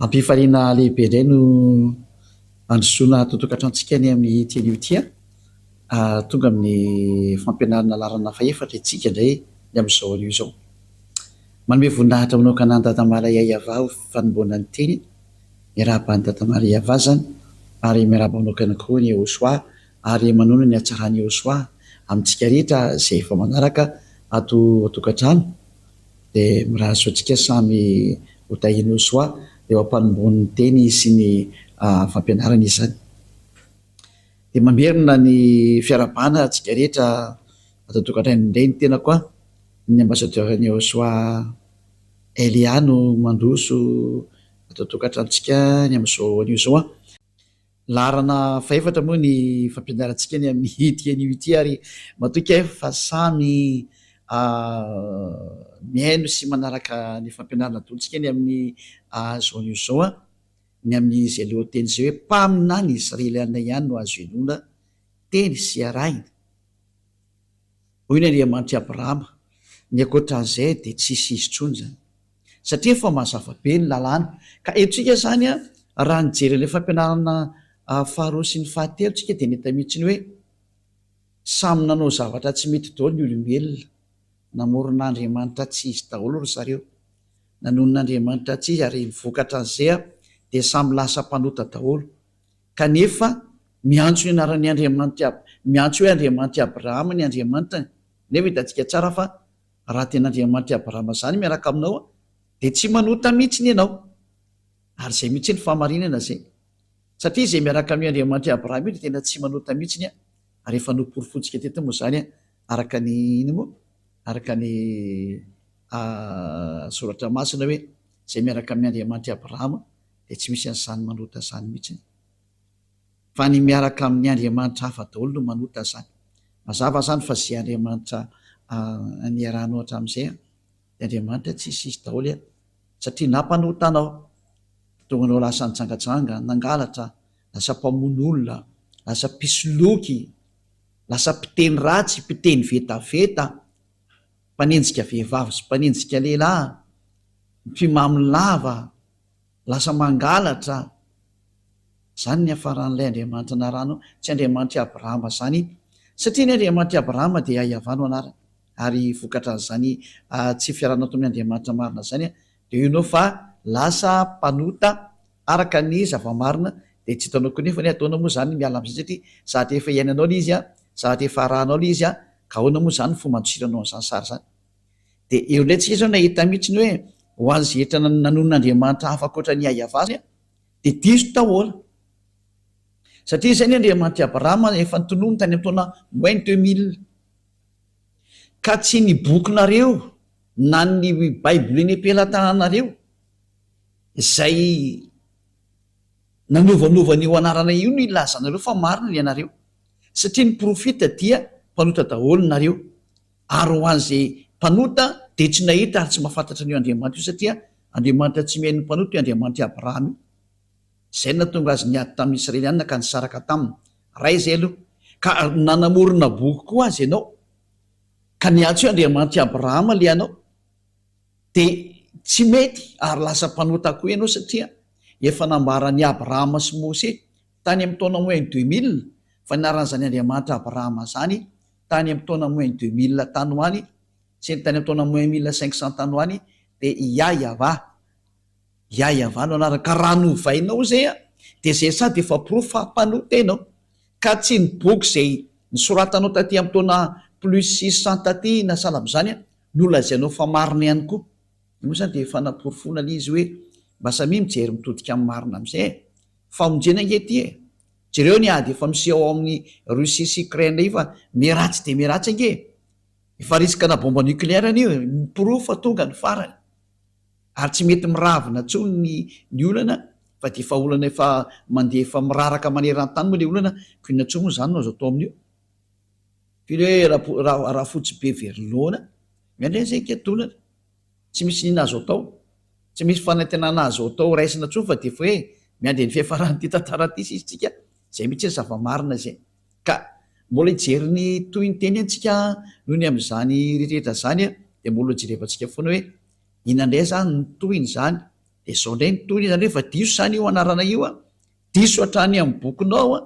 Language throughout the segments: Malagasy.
Am-pifaliana lehibe indray no handrosoana tonton-katrantsika ny amin'ity anio ity an! Tonga amin'ny fampianarana laharana fahefatra isika indray ny amin'izao anio izao. Manome voninahitra manokana an'i Dada Malay Ayava ho fanombohana ny teniny. Miarahaba an'i Dada Maria Vazana ary miarahaba manokana koa an'i Yehosua ary manona ny hatsaran'i Yehosua amintsika rehetra izay vao manaraka ato an-tokantrano dia mirary soa antsika samy ho tahian'i Yehosua eo am-panombohany ny teny sy ny fampianarany izany dia mamerina ny fiarahabana antsika rehetra ato an-tokantrano indray ny tenako an, ny ambassadeur-n'i Yehosua. Elia no mandroso ato an-tokantranontsika ny amin'izao anio izao an! Laharana fahefatra moa ny fampianarantsika ny amin'ity anio ity ary matoky aho fa samy mihaino sy manaraka ny fampianarana adolontsika ny amin'izao anio izao an! Ny amin'izay lohateny izay hoe Mpaminany Israeliana ihany no azo inoana, teny sy arahina. Hoy ny Andriamanitr'i Abrahama, Ny ankoatran'izay dia tsy hisy izy intsony izany. Satria efa mazava be ny lalàna. Ka henontsika izany raha nijery an'ilay fampianarana faharoa sy ny fahatelo isika dia nahita mihitsy ny hoe samy nanao zavatra tsy mety daholo ny olombelona. Namorona andriamanitra tsy izy daholo ry zareo. Nanonona andriamanitra tsy izy ary vokatran'izay dia samy lasa mpanota daholo. Kanefa miantso ny anaran'ny Andriamanitra, miantso hoe Andriamanitra Abrahama ny Andriamanitra, nefa hitantsika tsara fa raha tena Andriamanitra Abrahama izany miaraka aminao dia tsy manota mihitsiny ianao. Ary izay mihitsy ny fahamarinana izay. Satria izay miaraka amin'io Andriamanitra Abrahama io dia tena tsy manota mihitsiny ary efa noporofointsika teto moa izany araka ny ino moa? araka ny soratra masina hoe izay miaraka amin'ny Andriamanitra Abrahama dia tsy misy an'izany manota izany mihitsy fa ny miaraka amin'ny andriamanitra hafa daholo no manota izany. Mazava izany fa izay andriamanitra niarahanao hatramin'izay dia andriamanitra tsy hisy hisy daholo e! satria na mpanota anao, nahatonga anao lasa nijangajanga, nangalatra, lasa mpamono olona, lasa mpisoloky, lasa mpiteny ratsy, mpiteny vetaveta, mpanenjika vehivavy sy mpanenjika lehilahy, mpimamy lava, Lasa mangalatra izany ny hafaran'ilay Andriamanitra narano, tsy Andriamanitr'i Abrahama izany, satria ny Andriamanitr'i Abrahama dia Iavà no anarany, ary vokatran'izany tsy fiarahana tamin'ny Andriamanitra marina izany dia io nao fa lasa mpanota araka ny zava-marina, dia tsy hitanao koa nefa ny ataonao moa izany ny miala amin'izany satria sady efa iainanao ilay izy, sady efa arahanao ilay izy, ka ahoana moa izany ny fomba handosiranao an'izany sary izany? Dia eo indray tsika izao nahita mihitsy ny hoe ho an'izay hetra nanonona andriamanitra hafa ankoatra an'i Iahavah isika dia diso taola. Satria izay ny Andriamanitr'i Abrahama efa notononiny tany amin'ny taona moins deux mille. Ka tsy ny bokinareo na ny Baibolin'ny am-pelatananareo izay nanovanova an'io anarana io no ilazanareo fa marina ny anareo. Satria ny profita dia mpanota daholo nareo. Ary ho an'izay mpanota dia tsy nahita ary tsy mahafantatra an'io Andriamanitra io, satria Andriamanitra tsy mihaino ny mpanota io Andriamanitr'i Abrahama io. Izay no nahatonga azy niady tamin'ny Israelianina ka nisaraka taminy. Ray izay aloha. Ka nanamorona boky koa azy ianao, ka niantso hoe Andriamanitr'i Abrahama ilay anao, dia tsy mety ary lasa mpanota koa ianao, satria efa nambaran'i Abrahama sy Mose tany amin'ny taona moins deux mille fa nianaran'izany Andriamanitra Abrahama izany tany amin'ny taona moins deux mille tany ho any sy ny tany amin'ny taona moins mille cinq cents tany ho any dia i Yahya-va, Yahya-va no anarany, ka raha novainao izay an, dia izay sady efa porofo fa mpanota ianao, ka tsy ny boky izay nosoratanao taty amin'ny taona plus six cents taty na sahala amin'izany an, no lazainao fa marina ihany koa. Io moa izany dia efa namporofoina ilay izy hoe mba samia mijery mitodika amin'ny marina amin'izay e! Famonjena ange ity e! Jereo ny ady efa miseho ao amin'i Russie sy Ukraine indray io fa miharatsy dia miharatsy ange e! Efa riskana bomba nucléaire anie io e! Miporofo fa tonga ny farany ary tsy mety miravina intsony ny ny olana fa dia efa olana efa mandeha efa miraraka maneran-tany moa ilay olana ko inona intsony moa izany no azo atao amin'io? F'io re Rafotsibeverilona miandry an'izay higadonana. Tsy misy inona azo atao, tsy misy fanantenana azo atao raisina intsony fa dia foe miandry ny fiafaran'ity tantara ity sisa tsika, izay mihitsy ny zava-marina izay. Ka mbola hijery ny tohiny teny ntsika noho ny amin'izany rehetra izany a, dia mbola hojerevantsika foana hoe inona indray izany ny tohin'izany, dia izao indray ny tohiny izany hoe fa diso izany io anarana io a, diso hatrany amin'ny bokinao a,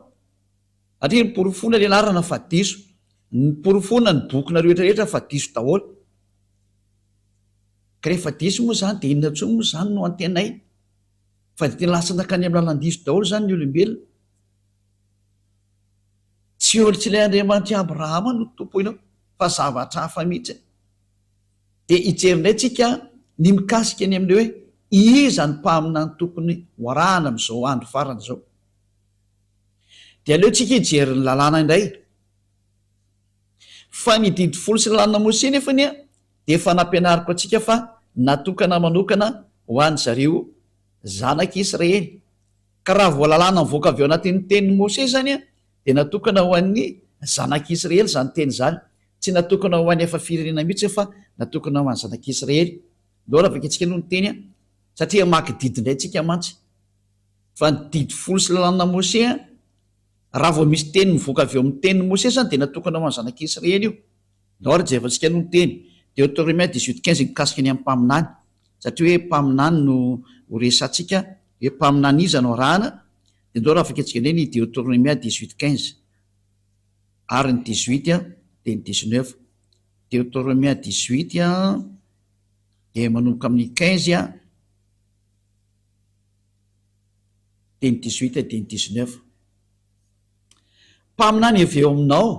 satria noporofoina ilay anarana fa diso, noporofoina ny bokinareo rehetra rehetra fa diso daholo. Ka rehefa diso moa izany dia inona intsony moa izany no antenaina? Fa dia tena lasa nankany amin'ny lalan-diso daholo izany ny olombelona. Tsy eo tsy ilay Andriamanitr'i Abrahama no Tompo inona fa zavatra hafa mihitsy. Dia hijery indray tsika ny mikasika ny amin'ny hoe iza ny mpaminany tokony ho arahana amin'izao andro farany izao. Dia aleontsika hijery ny lalàna indray. Fa ny didy folo sy ny lanin'i Mosesy anefa anie dia efa nampianariko antsika fa natokana manokana ho an-dry zareo zanak'i Israely. Ka raha voalalana mivoaka avy ao anatin'ny tenin'i Mosesy izany dia natokana ho an'ny zanak'i Israely izany teny izany. Tsy natokana ho an'ny hafa firenena mihitsy fa natokana ho an'ny zanak'i Israely daholo. Vakintsika aloha ny teny satria hamaky didy indray isika mantsy. Fa ny didy folo sy ny lanin'i Mosesy. Raha vao misy teny mivoaka avy eo amin'ny Tenin'i Mosesy izany dia natokana ho an'ny zanak'i Israely io. Ny Ordre Jevatsika no niteny, Deotoremia dix-huit quinze mikasika ny amin'ny mpaminany. Satria hoe mpaminany no ho resatsika, hoe mpaminany iza no arahana, dia ndao raha afaka jerena ny Deotoremia dix-huit quinze. Ary ny dix-huit dia ny dix-neuf. Deotoremia dix-huit dia manomboka amin'ny quinze. dia ny dix huit dia ny dix neuf mpaminany avy eo aminao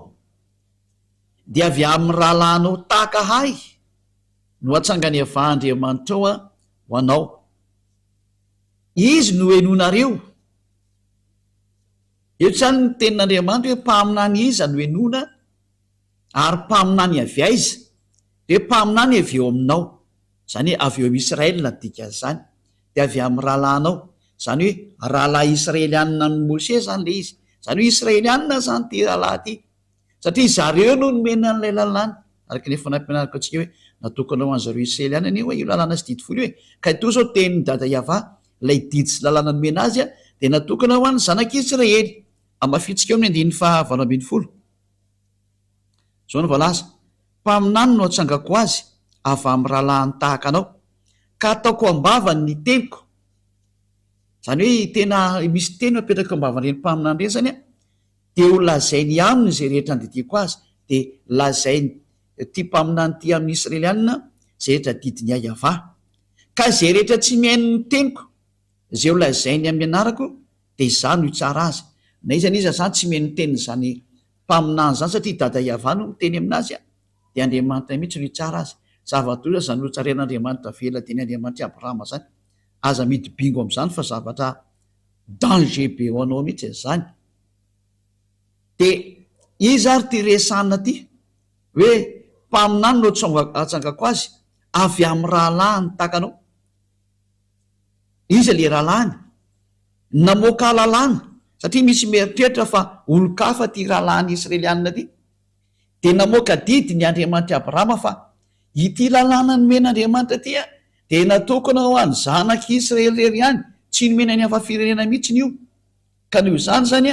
dia avy amin'ny rahalahinao tahaka ahy no atsanganevan'Andriamanitrao ho anao izy no henonareo eto izany ny tenin'Andriamanitra hoe mpaminany iza no henona Ary mpaminany avy aiza? Dia mpaminany avy eo aminao, izany hoe avy eo amin'i Israely no dikan'izany, dia avy amin'ny rahalahinao, izany hoe rahalahy Israelianina amin'i Mosè izany ilay izy, izany hoe Israelianina izany ity rahalahy ity, satria izy ireo no nomena an'ilay lalàna, araka ny efa nampianariko antsika hoe natokana ho an'i zareo Israelianina anie hoe io lalàna sy didy folo io e, ka ito izao tenin'i Dada Yavah, ilay didy sy lalàna nomena azy dia natokana ho an'ny zanak'i Israely, hamafintsika eo amin'ny andininy faha valo ambin'ny folo. Izao no voalaza, Mpaminany no atsangako ho azy avy amin'ny rahalahiny tahaka anao, ka ataoko am-bavany ny teniko. Izany hoe tena misy teny apetraka eo am-bavan'ireny mpaminany ireny izany an, dia ho lazainy aminy izay rehetra andidiako azy, dia lazain'ity mpaminany ity amin'ny Israelianina izay rehetra adidin'i Iahiahavà. Ka izay rehetra tsy mihaino ny teniko, Izay ho lazainy amin'ny anarako dia izaho no hitsara azy. Na iza na iza izany tsy mihaino ny tenin'izany mpaminany izany, satria i Dada Iavah no miteny amin'azy, dia Andriamanitra mihitsy no hitsara azy. Zava-doza izany notsarain'Andriamanitra avela teny Andriamanitr'i Abrahama izany. Aza mihidy bingo amin'izany fa zavatra danger be ho anao mihitsy izany. Dia iza ary ity resahina ity hoe mpaminany no atsangako azy? Avy amin'ny rahalahiny tahaka anao? Iza le rahalahiny? Namoaka lalàna satria misy mieritreritra fa olon-kafa ty rahalahiny Israelianina ty. Dia namoaka didy ny Andriamanitr'i Abrahama fa ity lalàna nomen'Andriamanitra ty dia natokana ho an'ny zanak'i Israely irery ihany, tsy nomena ny hafa firenena mihitsiny io. Ka noho izany izany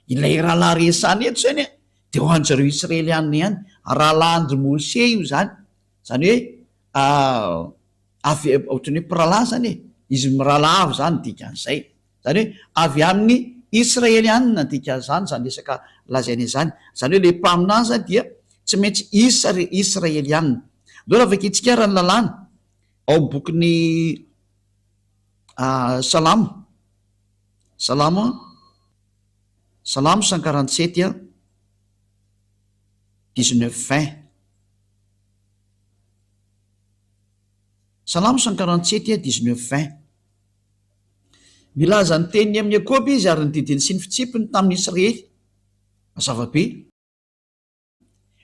ilay rahalahy resahina eto izany dia ho an'izareo Israelianina ihany, rahalahin-dry Mose io izany, izany hoe avy ohatran'ny hoe mpirahalahy izany e, izy mirahalahy avy izany ny dikan'izay, izany hoe avy amin'ny Israelianina ny dikan'izany izany resaka lazaina izany, izany hoe ilay mpaminany dia tsy maintsy Israelianina. Andao vakintsika ary ny lalàna ao amin'ny bokin'ny Salamo, Salamo, Salamo cent quarante sept dix neuf vingt. Salamo cent quarante sept et dix neuf vingt. Milaza ny teniny amin'ny Iakoba izy ary ny didiny sy ny fitsipiny tamin'ny Israely. Mazava be.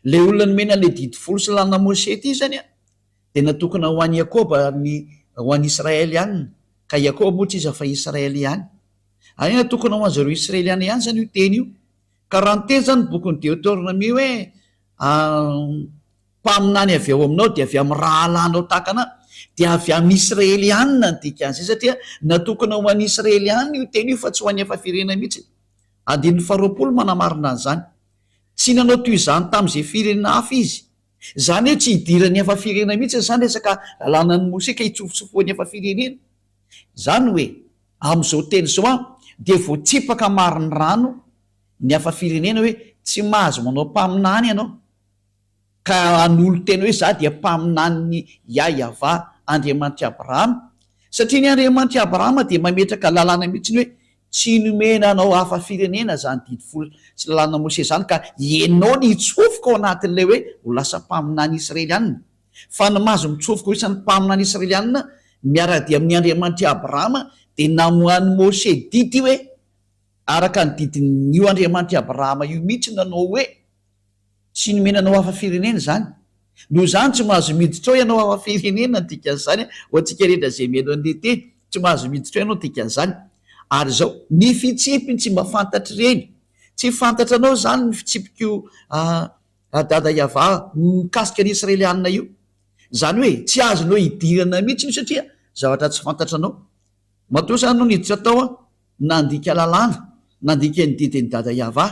Ilay olona nomena an'ilay didy folo sy lalana Mosè ity izany dia natokana ho an'i Iakoba ary ho an'i Israely ihany, ka Iakoba moa tsy iza fa Israely ihany. Ary natokana ho an'izareo Israeliana ihany izany io teny io. Ka raha niteny izany ny bokin'ny Deoteronomia hoe, Mpaminany avy ao aminao dia avy amin'ny rahalahinao tahaka anà, dia avy amin'ny Israelianina ny dikan'izay, satria natokana ho an'ny Israelianina io teny io fa tsy ho an'ny hafa firenena mihitsy. Andininy faharoapolo manamarina an'izany. Tsy nanao toy izany tamin'izay firenena hafa izy. Izany hoe tsy hidiran'ny hafa firenena mihitsy izany resaka lalànan'i Mosesy ka hitsofotsofohan'ny hafa firenena. Izany hoe, amin'izao teny izao an, dia voatsipaka marin'ny rano ny hafa firenena hoe tsy mahazo manao mpaminany ianao. ka hanolo-tena hoe, Izaho dia mpaminanin'i Yahyavah, Andriamanitr'i Abrahama, satria ny Andriamanitr'i Abrahama dia mametraka lalàna mihitsy hoe, Tsy nomena anao hafa firenena izany Didy Folo sy Lalànan'i Mosesy izany, ka ianao ny hitsofoka ao anatin'ilay hoe ho lasa mpaminany Israelianina. Fa ny maha azy mitsofoka ho isan'ny mpaminany Israelianina miara-dia amin'ny Andriamanitr'i Abrahama dia namoahan'i Mosesy didy hoe, Araka ny didin'io Andriamanitr'i Abrahama io mihitsy no nanao hoe, Tsy nomena anao hafa firenena izany. Noho izany tsy mahazo miditra ao ianao hafa firenena dikan'izany ho antsika rehetra izay mihaino an'i Lite tsy mahazo miditra ao ianao dikan'izany ary izao ny fitsipiny tsy mba fantatr'ireny tsy fantatra anao izany ny fitsipiko a dada Yava mikasika ny Israelianina io izany hoe tsy azonao idirana mihitsy io satria zavatra tsy fantatranao Matoa izany no niditra tao aho, nandika lalàna, nandika ny didin'i Dada Yavah,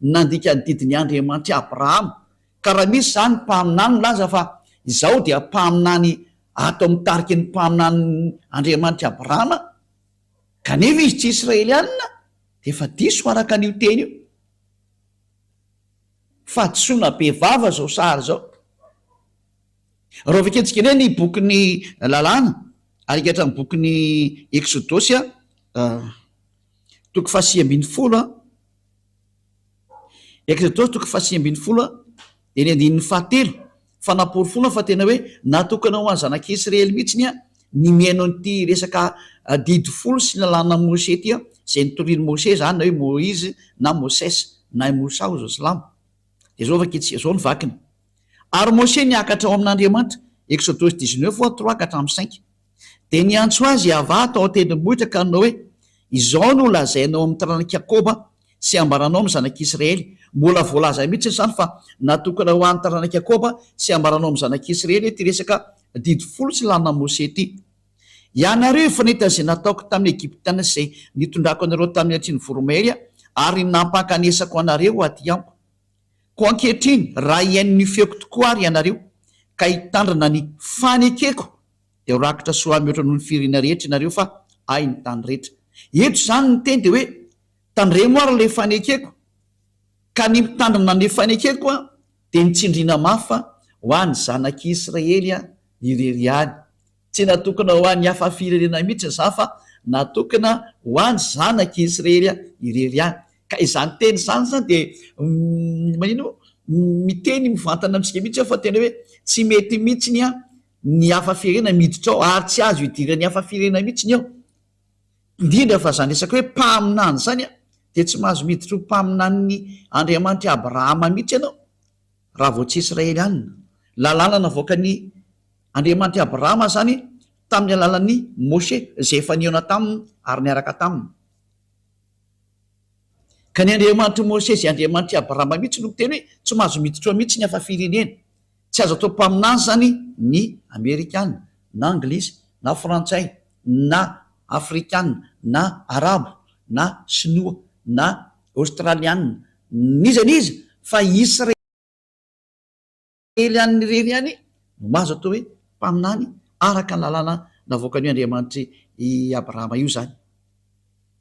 nandika ny didin'i Andriamanitr'i Abrahama, ka raha misy izany mpaminany milaza fa izaho dia mpaminany ato amin'ny tariky ny mpaminanin'i Andriamanitr'i Abrahama, kanefa izy tsy Israelianina, dia efa diso araka an'io teny io. Fahadisoana bevava izao sary izao. Raha vakiantsika indray ny bokin'ny Lalàna, ary ankehitriny ny bokin'ny Eksodosy, toko fahasivy ambin'ny folo, Eksodosy toko fahasivy ambin'ny folo, dia ny andininy fahatelo, fa namporofoana fa tena hoe natokana ho an'ny zanak'i Isiraely mihitsy ny mihaino an'ity resaka Didy folo sy ny Lalànan'i Mosesy ity, izay notorian'i Mosesy izany, na hoe Moizy na Mosesy, na i Mosa hoy izao silamo. Dia izao vakiantsika, izao no vakiny. Ary Mosè niakatra ao amin' Andriamanitra, Eksodosy dix-neuf fois trois ka hatramin' ny cinq. Dia niantso azy Iavah tao an-tendrombohitra ka nanao hoe, Izao no lazainao amin' ny taranak' i Jakôba sy ambaranao amin' ny zanak' Isiraely, mbola voalaza mihitsy izany fa natokana ho an' ny taranak' i Jakôba sy ambaranao amin' ny zanak' Isiraely ity resaka Didy folo tsy lanin' i Mosè ity. Ianareo efa nahita izay nataoko tamin' ny Egiptiana sy izay nitondrako anareo tamin' ny Atsian' ny Voromahery ary nampankanesako anareo aty amiko. Koa ankehitriny, raha hihaino ny feoko tokoa àry ianareo, ka hitandrina ny fanekeko, dia ho rakitra soa mihoatra noho ny firiana rehetra ianareo, fa Ahy ny tany rehetra. Eto izany ny teny dia hoe, Tandremo àry ilay fanekeko, ka ny mitandrina ny fanekeko dia ny tsindriana mafy ho an'ny zanak'i Israely irery ihany, Tsy natokona ho an'ny hafa firenena mihitsy izaho fa natokona ho an'ny zanak'i Isrery irery ihany. Ka izany teny izany izany dia manino? Miteny mivantana amintsika mihitsy aho fa tena hoe tsy mety mihitsy ny hafa firenena miditra ao ary tsy azo idiran'ny hafa firenena mihitsy ny ao. Indrindra fa izany resaka hoe mpaminany izany dia tsy mahazo miditra ho mpaminanin'ny Andriamanitra Abrahama mihitsy ianao Raha vao tsy Israelianina. Lalàna navoaka ny Andriamanitry Abrahama izany tamin'ny alalan'i Moshe izay efa nihaona taminy ary niaraka taminy. Ka ny Andriamanitr'i Moshe izay Andriamanitr'i Abrahama mihitsy no miteny hoe tsy mahazo miditra mihitsy ny hafa firenena. Tsy azo atao mpaminany izany ny Amerikana, na Anglisy, na Frantsay, na Afrikana, na Arabo, na Sinoa, na Aostraliana, n'iza n'iza fa i Israely an'ny irery ihany no mahazo atao hoe mpaminany araka ny lalàna navoakan'io Andriamanitry i Abrahama io izany.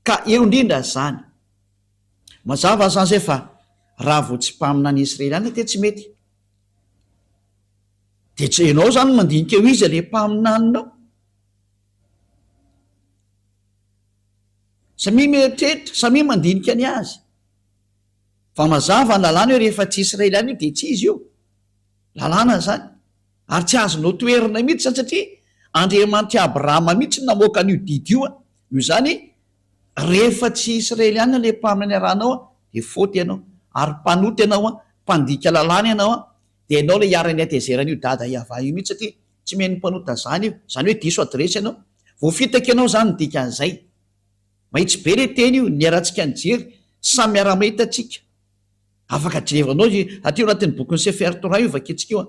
Ka eo indrindra izany. Mazava izany izay fa raha vao tsy mpaminany Israeliana dia tsy mety. Dia tsy ianao izany no mandinika eo iza ilay mpaminaninao. Samia mieritreritra, samia mandinika ny azy. Fa mazava ny lalàna hoe rehefa tsy Israeliana io dia tsy izy io. Lalàna izany. Ary tsy azonao toherina mihitsy izany satria Andriamanitr'i Abrahama mihitsy no namoaka an'io didy io. Noho izany, rehefa tsy Israeliana ilay mpaminany iarahanao dia faute ianao. Ary mpanota ianao, mpandika lalàna ianao. Dia ianao ilay iharan'ny hatezeran'io dada Yavah io mihitsy satria Tsy mihaino mpanota zany io. Zany hoe diso adiresy ianao. Voafitaka ianao zany ny dikan'izay. Mahitsy be le teny io, niharantsika nijery, samy miara-mahita tsika. Afaka jerevanao aty io anatin'ny bokin'i Sefer Torah io vakintsika io an.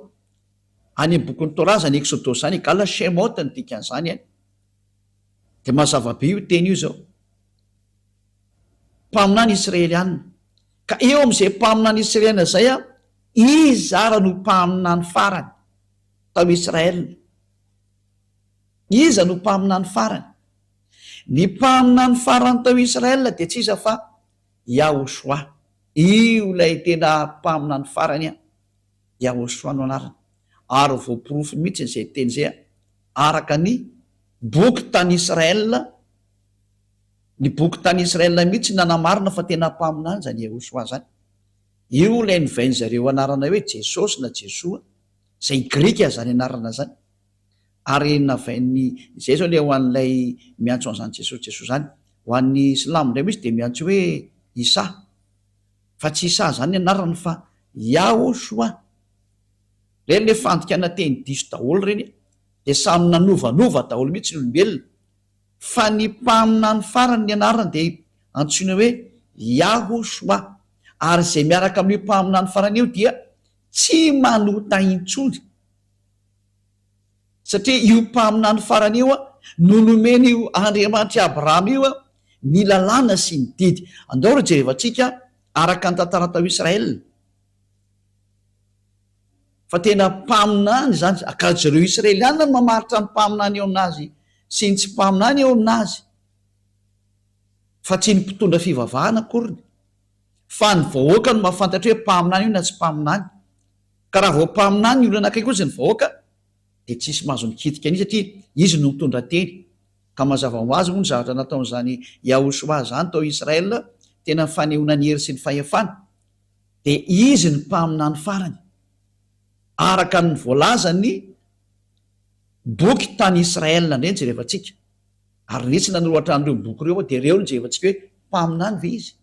Any amin'ny bokin'ny Torah zany Exodosy zany egal Shemot ny dikan'izany an. De mazava be io teny io zao. Mpaminany Israeliana. Ka eo amin'izay mpaminany Israeliana zay an, iza ara no mpaminany farany? tao Israël. Iza no mpaminany farany? Ny mpaminany farany tao Israël dia tsy iza fa Yahoshua. Io ilay tena mpaminany farany an! Yahoshua no anarany. Ary voaporofo mihitsy izay teny izay araka ny boky tany Israël. Ny boky tany Israël mihitsy nanamarina fa tena mpaminany izany Yahoshua izany. Io ilay novain'izareo anarana hoe Jesosy na Jesoa. izay grika izany anarana izany, ary navain'ny, izay izao ilay ho an'ilay miantso an'izany Jesosy Jesosy izany. Ho an'ny silamo indray misy dia miantso hoe Isa, fa tsy Isa izany ny anarany fa Yahoshua. Ireny ilay fandikana teny diso daholo ireny e! dia samy nanovanova daholo mihitsy ny olombelona, fa ny mpaminany farany ny anarany dia antsoina hoe Yahoshua, ary izay miaraka amin'io mpaminany farany io dia tsy manota intsony satria io mpaminany farany io no nomeny io Andriamanitry Abrahama io ny lalàna sy ny didy. Andao ry jerevantsika araka ny tantara tao Israel fa tena mpaminany izany ka jereo Israeliana no mamaritra ny mpaminany eo aminazy sy ny tsy mpaminany eo aminazy fa tsy ny mpitondra fivavahana akoriny. fa ny vahoaka no mahafantatra hoe mpaminany io na tsy mpaminany, ka raha vao mpaminany ny olona akaiky ozy ny vahoaka dia tsisy mahazo mikitika an'izy satria izy no mitondra teny, ka mazava ho azy moa ny zavatra nataon'izany Yahushua izany tao Israel tena ny fanehoana ny hery sy ny fahefana, dia izy ny mpaminany farany araka ny voalazan'ny boky tany Israel ndray ny jerevantsika. Ary nitsy nanoratra an'ireo boky ireo aho, dia reo no jerevantsika hoe mpaminany ve izy?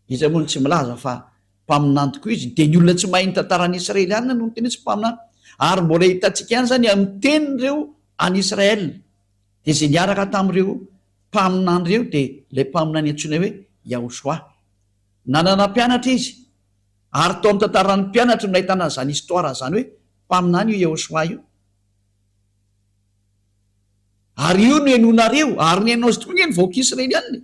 Iza moa no tsy milaza fa mpaminany tokoa izy? Dia ny olona tsy mahay ny tantaran'ny Israeliana no niteny hoe tsy mpaminany. Ary mbola hitantsika ihany izany amin'ny tenin'ireo any Israel. Dia izay niaraka tamin'ireo mpaminany ireo dia ilay mpaminany antsoina hoe Yahoshua. Nanana mpianatra izy. Ary tao amin'ny tantaran'ny mpianatry no nahitana an'izany histoire izany hoe mpaminany io Yahoshua io. Ary io no henonareo, ary ny henonao izy tokoa ange ny vahoaka Israeliana e!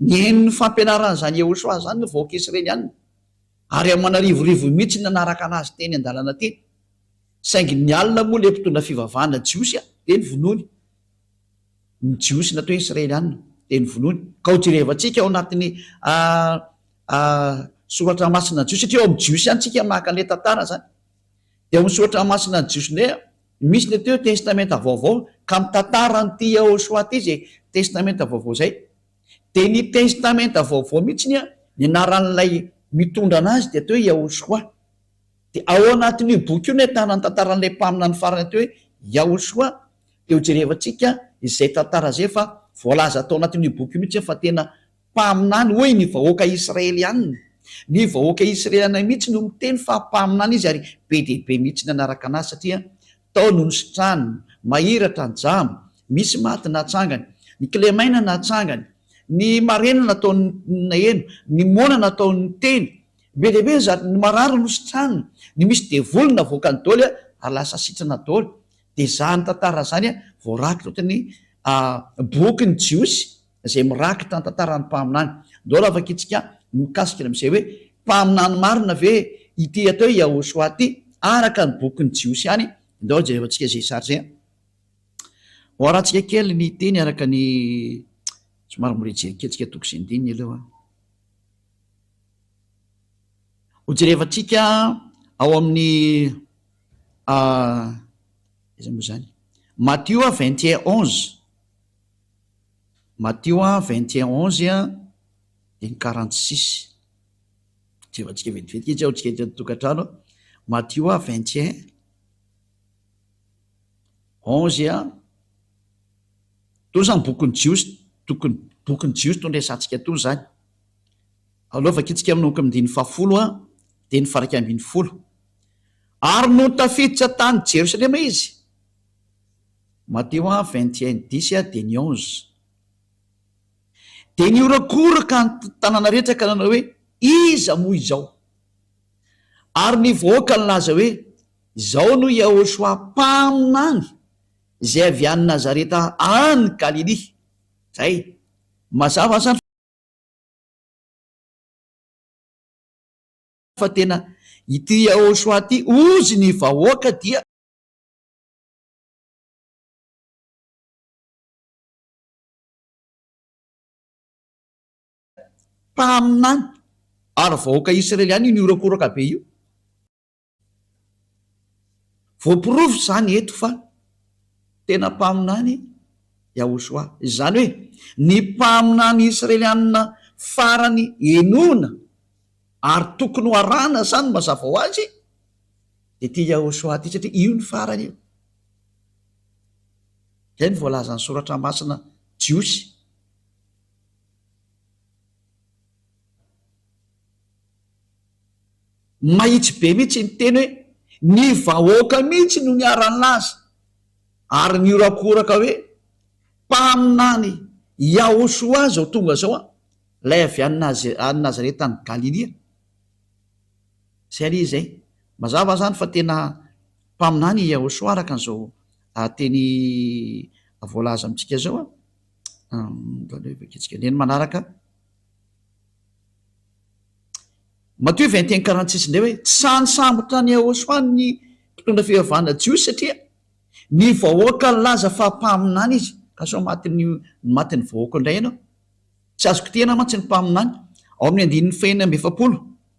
Ny henon'ny fampianaran'izany Yehosua izany ny vahoaka Israeliana, ary aman'arivorivo mihitsy ny nanaraka an'azy teny an-dalana teny. Saingy ny alina moa ilay mpitondra fivavahana jiosy dia novonoiny. Ny jiosy natao hoe Israeliana dia novonoiny. Ka ho jerevantsika ao anatin'ny a, a, soratra masina jiosy, satria ao amin'ny jiosy ihany tsika maka an'ilay tantara izany. dia misaotra masina ny jiosy ndray a! misy le teo testamenta vaovao ka mitantara an'ity Yahoshuah ty zay testamenta vaovao zay dia ny testamenta vaovao mihitsiny a! ny anaran'ilay mitondra anazy dia atao hoe Yahoshuah dia ao anatin'io boky io no ahitana ny tantaran'ilay mpaminany farany atao hoe Yahoshuah dia hojerevantsika izay tantara izay fa voalaza tao anatin'io boky io mihitsy fa tena Mpaminany, hoy ny vahoaka Israeliana. Ny vahoaka Israeliana mihitsy no miteny fa mpaminany izy ary be dia be mihitsy ny hanaraka anazy satria tao no nisitrahany, mahiratra njama misy maty natsangany, ny kilemaina natsangany, ny marena nataony naheno, ny moana nataony niteny, be dia be zany, ny marary nositrahany, ny misy devoly navoakany doly ary lasa sitrana doly, dia zany tantara zany voarakitra ohatran'ny boky ny jiosy izay mirakitra ny tantaran'ny mpaminany. Andao ravaka itsika ny mikasika ny amin'izay hoe, mpaminany marina ve ity atao hoe Yahoshua ity araka ny bokin'ny Jiosy ihany? Andao jereo tsika izay sary izay. Hoarantsika kely ny teny araka ny somary mora hijery kely tsika toko sy andininy aloha. Hojerevantsika ao amin'ny ah, izay moa izany, Matio 21 11. Matio an, vingt et un onze an, dia ny quarante six. Jerevantsika vetivetika izy ao tsika ety an-tokantrano an. Matio an, vingt et un onze an. Itony izany bokin'ny Jiosy tokony bokin'ny Jiosy itony resahantsika itony izany. Aleo vakintsika manomboka amin'ny andininy fahafolo an, dia ny varaika ambin'ny folo. Ary nony tafiditra tany Jerosalema izy. Mateo a vingt et un dix a dia ny onze dia nihorakoraka ny tanàna rehetra ka nanao hoe, Iza moa izao? Ary ny vahoaka nilaza hoe, Izao no Iahôshua mpaminany izay avy any Nazareta any Galilia. Izay. Mazava izany fa tena ity Iahôshua ity, hozy ny vahoaka, dia. mpaminany ary vahoaka Israeliana io nihorakoraka be io. Voaporofo izany eto fa tena mpaminany Yahushua. Izany hoe ny mpaminany Israeliana farany henoina ary tokony ho arahina izany mazava ho azy. dia ity Yahoshua ity, satria io ny farany io. Izay no voalazan'ny Soratra Masina jiosy. Mahitsy be mihitsy ny teny hoe ny vahoaka mihitsy no niara-nilaza ary nihorakoraka hoe mpaminany Yahoshua izao tonga izao an, ilay avy any Nazareta any Galilia. Izay anie izay. Mazava izany fa tena mpaminany i Yahosoa araka an'izao teny voalaza amintsika izao an. Andaleo vakintsika ny eny manaraka. Matio vingt et un quarante six indray hoe, Tsy sahy nisambotra an'i Yahosoa ny mpitondra fivavahana jiosy satria ny vahoaka nilaza fa mpaminany izy. Ka sao matin'ny matin'ny vahoaka indray ianao? Tsy azoko tena mantsy ny mpaminany. Ao amin'ny andininy fahenina amby efapolo.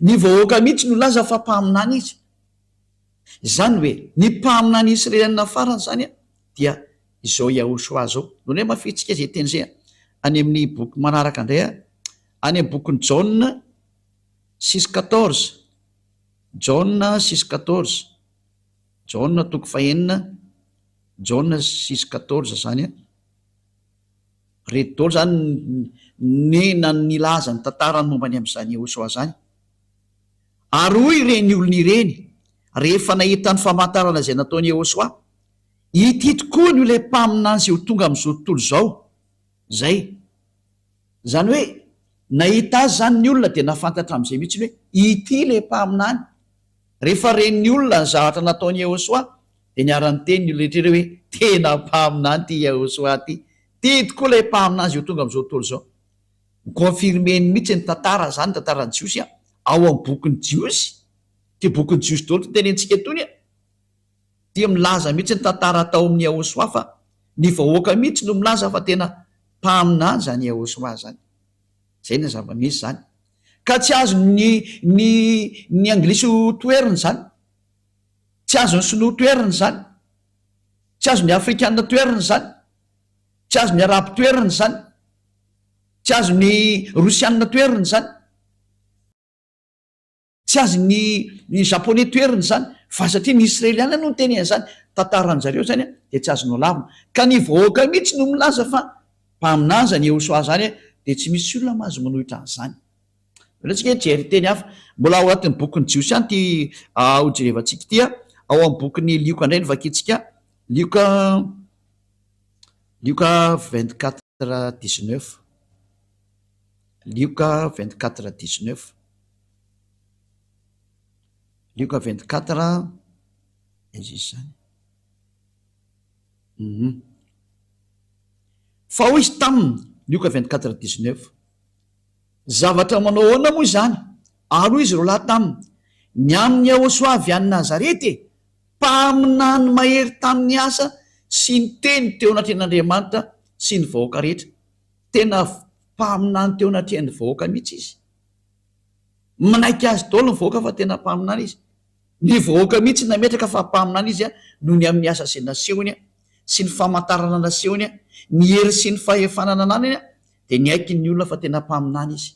Ny vahoaka mihitsy no laza fa mpaminany izy. Izany hoe ny mpaminany Israelianina farany izany dia izao Yahushua izao. Lemao fihetsika izay teny izay any amin'ny boky manaraka indray, any amin'ny bokin'i Jaona six quatorze, Jaona six quatorze, Jaona toko fahenina, Jaona six quatorze izany. Reto daholo izany ny nan nilaza ny tantarany momba ny amin'izany Yehosua izany. Ary hoy ireny olona ireny, rehefa nahita ny famantarana izay nataon'i Yehosua, Ity tokoa no ilay mpaminany izay ho tonga amin'izao tontolo izao. Izay. Izany hoe, nahita azy izany ny olona dia nafantatra amin'izay mihitsy hoe, Ity ilay mpaminany. Rehefa ren'ny olona ny zavatra nataon'i Yehosua, dia niara-niteny ny olona rehetra ireo hoe, Tena mpaminany ity Yehosua ity! Tia tokoa ilay mpaminany izay ho tonga amin'izao tontolo izao. Ni-confirmer-ny mihitsy ny tantara izany, ny tantaran'ny Jiosy ao amin'ny bokin'ny Jiosy. Ity bokin'ny Jiosy daholo ity tenentsika itony dia milaza mihitsy ny tantara tao amin'i Yehosua fa ny vahoaka mihitsy no milaza fa tena mpaminany izany Yehosua izany. Izay no zava-misy izany. Ka tsy azon ny ny ny anglisy ho toerina izany. Tsy azon ny sinoa toerina izany. Tsy azon ny afrikana toerina izany. Tsy azon ny arabo toerina izany. Tsy azon ny rosiana toerina izany. Tsy azon ny ny japoney toerina izany. Fa satria ny israeliana no niteny an'izany tantaran zareo izany dia tsy azo nolavina. Ka ny vahoaka mihitsy no milaza fa Mpaminany izany Yehosoa izany dia tsy misy olona mahazo manohitra an'izany. Avelao-tsika hijery teny hafa. Mbola ao anatin'ny bokin'ny Jiosy ihany ity hojerevantsika ity, ao amin'ny bokin'i Lioka indray no vakintsika, Lioka, Lioka vingt quatre dix neuf, Lioka vingt quatre dix neuf, Lioka vingt quatre, aiza izy izany? Humm. Fa hoy izy taminy, Lioka vingt quatre dix neuf, Zavatra manao ahoana moa izany? Ary hoy izy roa lahy taminy, Ny amin'i Iahosoa avy any Nazareta e, mpaminany mahery tamin'ny asa sy ny teny teo anatrehan'Andriamanitra sy ny vahoaka rehetra. Tena mpaminany teo anatrehan'ny vahoaka mihitsy izy. Manaiky azy daholo ny vahoaka fa tena mpaminany izy. Ny vahoaka mihitsy nametraka fa mpaminany izy noho ny amin'ny asa izay nasehony sy ny famantarana nasehony, ny hery sy ny fahefana nananany dia niaiky ny olona fa tena mpaminany izy.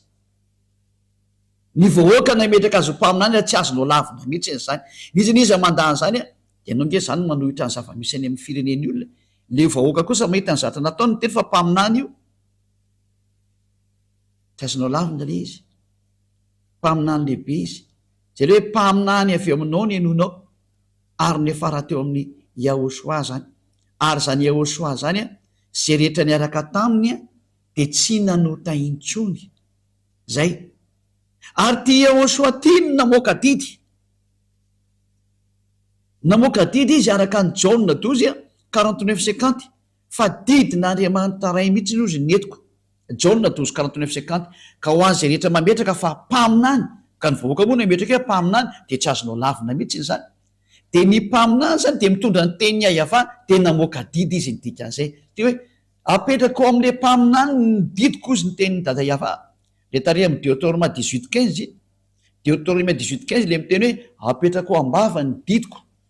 Ny vahoaka nametraka azy ho mpaminany raha tsy azo nolavina mihitsy izany. Izy anie izay mandà an'izany dia ianao ange izany no manohitra ny zava-misy any amin'ny firenen'ny olona. Ilay vahoaka kosa mahita ny zatra nataony miteny fa mpaminany io. Tsy azo nolavina ilay izy. Mpaminany lehibe izy. Izany hoe mpaminany avy eo aminao ny henoinao, ary niafara teo amin'i Yahoshuah izany. Ary izany Yahoshuah izany, izay rehetra niaraka taminy dia tsy nanota intsony. Izay. Ary ity Yahoshuah ity no namoaka didy. Namoaka didy izy araka an'i Jaona dozy, quarante-neuf cinquante, Fa didin'Andriamanitra Ray mihitsy aloha izy netiko, Jaona douze quarante neuf cinquante, ka ho an'izay rehetra mametraka fa mpaminany, ka ny vahoaka moa no ametraka hoe mpaminany dia tsy azonao lavina mihitsy izany. Dia ny mpaminany izany dia mitondra ny tenin'i Yahavah dia namoaka didy izy ny dikan'izay dia hoe apetrako ao amin'ilay mpaminany ny didiko hozy ny tenin'i Dada Yahavah. Ilay tarehy amin'ny Deotorma dix huit quinze iny, Deotorma dix huit quinze ilay miteny hoe apetrako ao am-bavany ny didiko.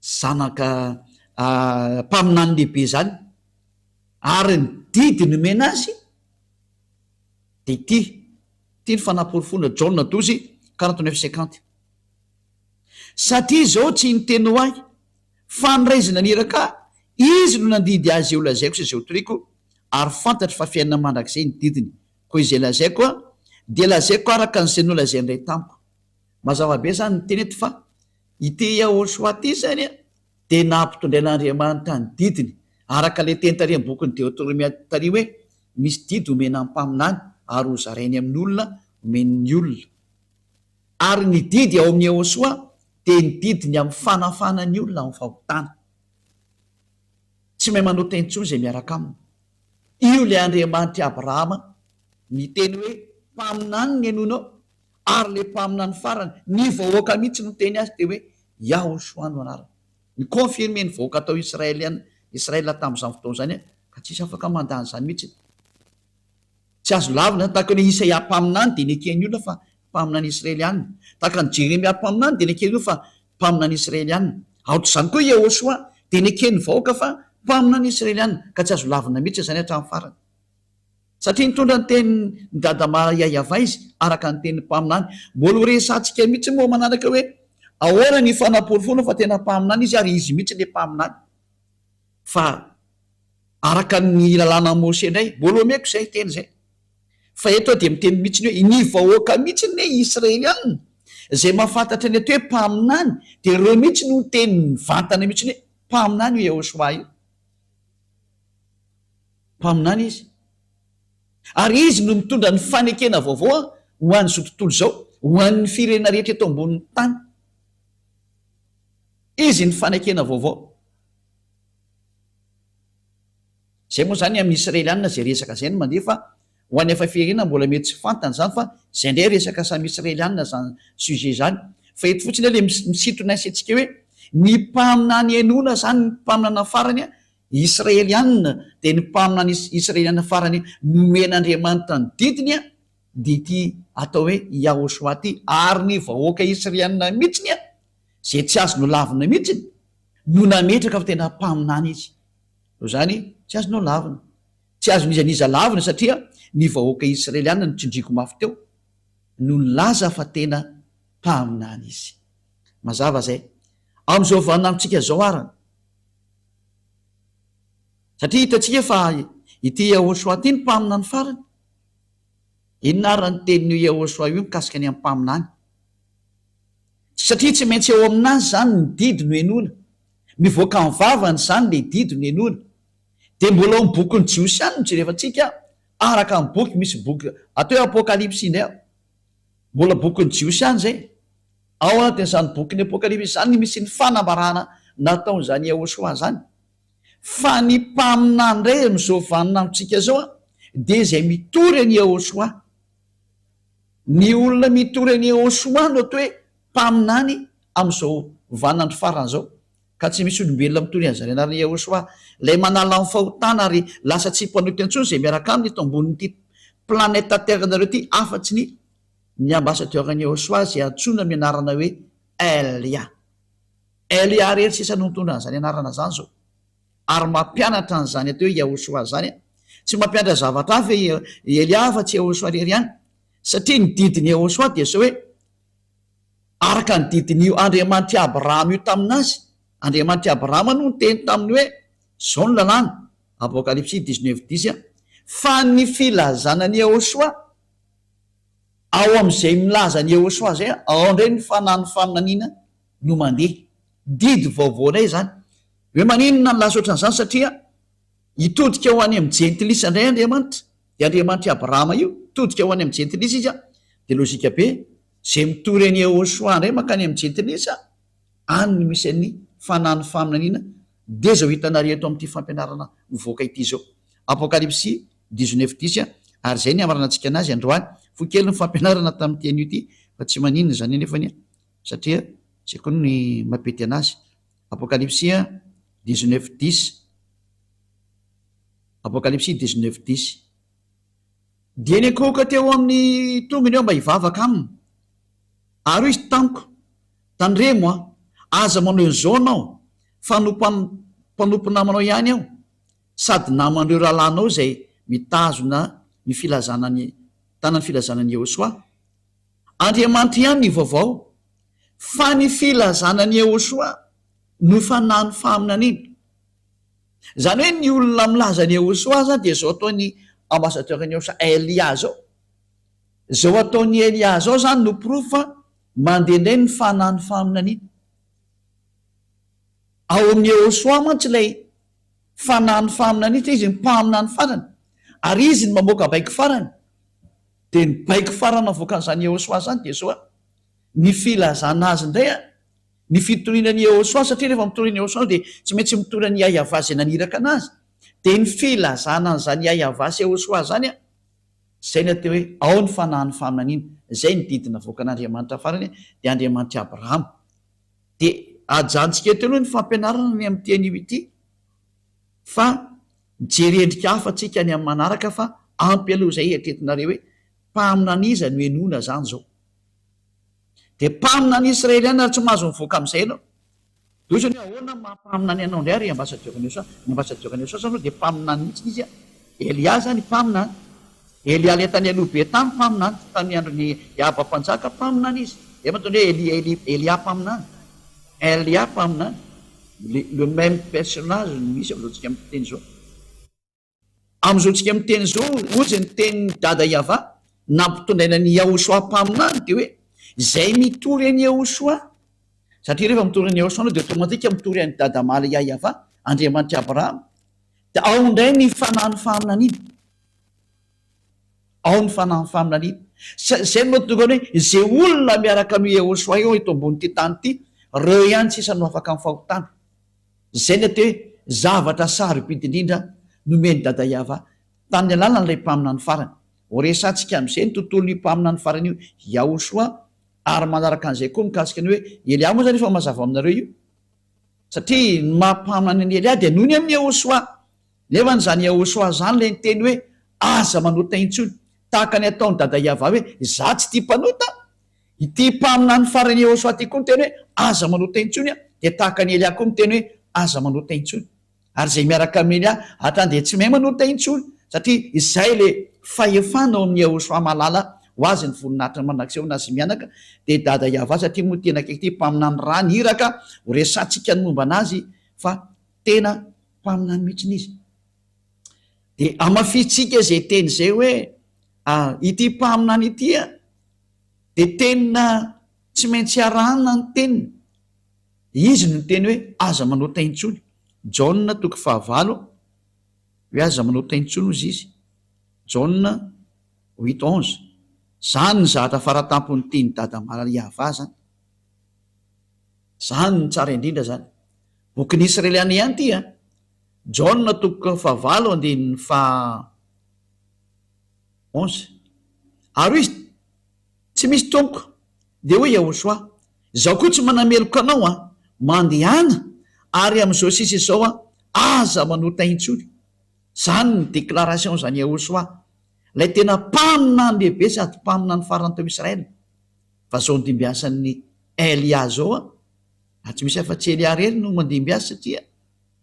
zanaka mpaminany lehibe izany ary ny didy nomena azy dia ity, ity ny fanaporofoana, Jaona douze quarante neuf cinquante, satria izao tsy ny teny ho ahy fa ny Ray izay naniraka ahy, Izy no nandidy ahy izay holazaiko sy izay hotoriako, ary fantatro fa fiainana mandrakizay ny didiny, koa izay lazaiko dia lazaiko araka an'izay nolazain'ny Ray tamiko. Mazava be izany ny teny eto fa. Ity Yahoshuah ity izany dia nampitondrain'Andriamanitra ny didiny, araka ilay teny tary amin'ny bokin'i Deotoromia tary hoe, Misy didy homena ny mpaminany ary hozarainy amin'ny olona, homeny ny olona. Ary ny didy ao amin'i Yahoshuah dia ny didiny amin'ny fanafahana ny olona amin'ny fahotana. Tsy mahay manota intsony izay miaraka aminy. Io ilay Andriamanitr'i Abrahama. Ny teny hoe mpaminany no henoinao, Ary le mpaminany farany, ny vahoaka mihitsy no niteny azy teo hoe, Yahoshua no anarany. Ni-confirmer ny vahoaka tao Israeliana, Israel tamin'izany fotoana izany ka tsisy afaka mandà an'izany mihitsy. Tsy azo lavina izany, tahaka ny hoe Isaia mpaminany dia neken'ny olona fa mpaminany Israeliana. Tahaka ny Jeremia mpaminany dia neken'ny olona fa mpaminany Israeliana. Aotr'izany koa Yahoshua dia neken'ny vahoaka fa mpaminany Israeliana, ka tsy azo lavina mihitsy izany hatramin'ny farany. Satria nitondra ny tenin'i Dadama Yayava izy, araka ny tenin'ny mpaminany. Mbola ho resahantsika mihitsy moa manaraka hoe ahoana ny fanaporofoana fa tena mpaminany izy ary izy mihitsy ilay mpaminany fa araka ny lalànan'i Mosè indray. Mbola omeko izay teny izay. Fa eto aho dia miteny mihitsy hoe ny vahoaka mihitsy ny Israeliana izay mahafantatra ny atao hoe mpaminany dia ireo mihitsy no niteny mivantana mihitsy hoe mpaminany io Yehosua io. Mpaminany izy, ary izy no mitondra ny fanekena vaovao ho an'izao tontolo izao, ho an'ny firenena rehetra eto ambonin'ny tany. Izy ny fanekena vaovao. Izay moa izany amin'ny Israelianina izay resaka izay no mandeha fa ho an'ny hafa firenena mbola mety tsy fantany izany fa izay indray resaka samy Israelianina izany sujet izany. Fa eto fotsiny ilay misintona sy antsika hoe ny mpaminany henoina izany ny mpaminana farany Israeliana, dia ny mpaminany Israeliana farany nomen'Andriamanitra ny didiny dia ity atao hoe Yahoshua ity, ary ny vahoaka Israeliana mihitsiny izay tsy azo nolavina mihitsiny no nametraka fa tena mpaminany izy, noho izany tsy azo nolavina, tsy azon'iza n'iza lavina satria ny vahoaka Israeliana no tsindriako mafy teo no nilaza fa tena mpaminany izy. Mazava izay. Amin'izao vaninandrontsika izao arany. Satria hitantsika fa ity Yehôsoa ity no mpaminany farany. Inona ary raha ny tenin'io Yehôsoa io mikasika ny amin'ny mpaminany? Satria tsy maintsy eo aminazy izany ny didy no henoina. Mivoaka amin'ny vavany izany ilay didy no henoina. Dia mbola ao amin'ny bokin'ny Jiosy ihany no jerevantsika, araka ny boky, misy boky atao hoe Apôkalipsy indray ao. Mbola bokin'ny Jiosy ihany izay. Ao anatin'izany bokin'ny Apokalypsy izany ny misy ny fanambarana nataon'izany Yahoshuah izany. Fa ny mpaminany indray amin'izao vaninandrontsika izao dia izay mitory an'i Yahoshuah. Ny olona mitory an'i Yahoshuah no atao hoe mpaminany amin'izao vaninandro farany izao. Ka tsy misy olombelona mitory an'i Zariana ary Yehosua, ilay manala ny fahotana ary lasa tsy mpanota intsony izay miaraka aminy eto ambonin'ity planète Terre-nareo ity afa-tsy ny ny ambassadeur-n'i Yehosua izay antsoina amin'ny anarana hoe Elia. Elia irery sisa no nitondra an'izany anarana izany izao. Ary mampianatra an'izany atao hoe Yehosua izany an! Tsy mampianatra zavatra hafa i Elia afa-tsy Yehosua irery ihany. Satria ny didin'i Yehosua dia izao hoe, Araka ny didin'io Andriamanitr'i Abrahama io tamin'azy, Andriamanitr'i Abrahama no niteny taminy hoe, Izao no lalàna, Apokalypsy dix-neuf dix, fa ny filazana an'i Yehosua, ao amin'izay milaza an'i Yehosua izay, ao indray ny fanahin'ny faminaniana no mandeha. Didy vaovao indray izany. Hoe maninona nilaza ohatran'izany? Satria hitodika ho any amin'ny Jentilisa indray Andriamanitra. Io Andriamanitr'i Abrahama io, hitodika ho any amin'ny Jentilisa izy, dia lojika be Izay mitory an'i Yehosua indray mankany amin'i Jentilisa, any no misy an'ny fanahin'ny faminaniana, dia izao hitanareo eto amin'ity fampianarana mivoaka ity izao. Apokalypsy dix neuf dix, Ary izay ny hamaranantsika anazy androany. Fohy kely ny fampianarana tamin'ity anio ity, fa tsy maninona izany anefany an! satria izay koa ny mampety anazy. Apokalypsy dix neuf dix, Apokalypsy dix neuf dix. Dia niankohoka teo amin'ny tongony aho mba hivavaka aminy. Ary hoy izy tamiko, Tandremo an! Aza manao izao ianao, fa mpanompo namanao ihany aho, sady naman'ireo rahalahinao izay mitazona ny filazana ny tanan'ny filazana an'i Yehosua. Andriamanitra ihany ny vaovao, fa ny filazana an'i Yehosua no fanahin'ny faminaniana. Izany hoe ny olona milaza an'i Ehosoa izany dia izao ataon'i ambassadeur-n'i Ehosoa, Elia izao. Izao ataon'i Elia izao izany no porofo fa mandeha indray ny fanahin'ny faminaniana. Ao amin'i Ehosoa mantsy ilay fanahin'ny faminaniana satria izy ny mpaminany farany ary izy ny mamoaka baiko farany. Dia ny baiko farany avoakan'izany Ehosoa izany dia izao, ny filazana azy indray an! Ny fitoriana an'i Yehosua, satria rehefa mitory an'i Yehosua dia tsy maintsy mitory an'i Yahyavah izay naniraka anazy, dia ny filazana an'izany Yahyavah sy Yehosua izany, izay ny atao hoe ao ny fanahin'ny faminaniana, izay ny didy navoakan'Andriamanitra farany, dia Andriamanitr'i Abrahama. Dia ajanontsika eto aloha ny fampianarana ny amin'ity anio ity, fa mijery endrika hafa tsika any amin'ny manaraka, fa ampy aloha izay eritreretinareo hoe mpaminan'iza no henoina izany izao. Dia mpaminany Israeliana ary tsy mahazo mivoaka amin'izay ianao. Dia hoy izy hoe ahoana no maha-mpaminany anao indray ry Ambasadiora Nelson? Ny Ambasadiora Nelson aloha dia mpaminany mihitsy izy an! Elia izany mpaminany. Elia ilay tany aloha be tany mpaminany, tamin'ny andron'i Ahaba mpanjaka mpaminany izy. Izay mahatonga hoe Elia, Elia, Elia mpaminany. Elia mpaminany. Le, le même personnage no misy amin'izao tsika miteny izao. Amin'izao tsika miteny izao, hoy izay niteny ny Dada Yavah, nampitondraina an'i Yahoshua mpaminany, dia hoe, izay mitory an'i Yahoshua, satria rehefa mitory an'i Yahoshua ianao dia automatique mitory an'i Dada Maria Yavah, Andriamanitr'i Abrahama, dia ao indray ny fanahin'ny faminaniana, ao ny fanahin'ny faminaniana, izay no mahatonga ny hoe, izay olona miaraka amin'io Yahoshua io eto ambonin'ity tany ity, ireo ihany sisa no afaka amin'ny fahotana. Izay ny atao hoe zavatra sarobidy indrindra nomen'i Dada Yava tamin'ny alalan'ilay mpaminany farany. Horesahantsika amin'izay ny tontolon'io mpaminany farany io Yahushua ary manaraka an'izay koa mikasika ny hoe Elia moa izany efa mazava ao aminareo io satria ny maha mpaminany an'i Elia dia noho ny amin'i Yahushua nefa izany Yahushua izany ilay niteny hoe aza manota intsony tahaka ny ataon'i Dada Yava hoe izaho tsy tia mpanota Ity mpaminany farany Yehosua ity koa niteny hoe, Aza manota intsony, dia tahaka an'i Elia koa miteny hoe, Aza manota intsony. Ary izay miaraka amin'i Elia hatrany dia tsy mahay manota intsony, satria izay ilay fahefana ao amin'i Yehosua mahalala ho azy ny voninahitry ny mandrakizay ho nazy mianaka, dia i Dada Yavah, satria moa tena akaiky ity mpaminany raha ny iraka ho resahantsika ny momba anazy fa tena mpaminany mihitsy izy. Dia hamafisintsika izay teny izay hoe, Ary ity mpaminany ity Dia tena tsy maintsy arahana ny teniny. Izy no niteny hoe, Aza manota intsony. Jaona toko fahavalo, hoe aza manota intsony hozy izy. Jaona huit onze. Izany ny zavatra faratampon'ny teny Dada Maria Vah izany. Izany no tsara indrindra izany. Bokin'ny Israeliana ihany ity an. Jaona toko fahavalo andinin'ny faha onze. Ary hoy izy, Tsy misy tompoko. Dia hoy Yahoshuah, Izaho koa tsy manameloka anao an! Mandehana, ary amin'izao sisa izao an, aza manota intsony. Izany no déclaration-n'i Yahoshuah, ilay tena mpaminany lehibe sady mpaminany farany tao Israël. Fa izao andimbiasan'i Elia izao an, ary tsy misy afa-tsy Elia irery no mandimbiasa satria,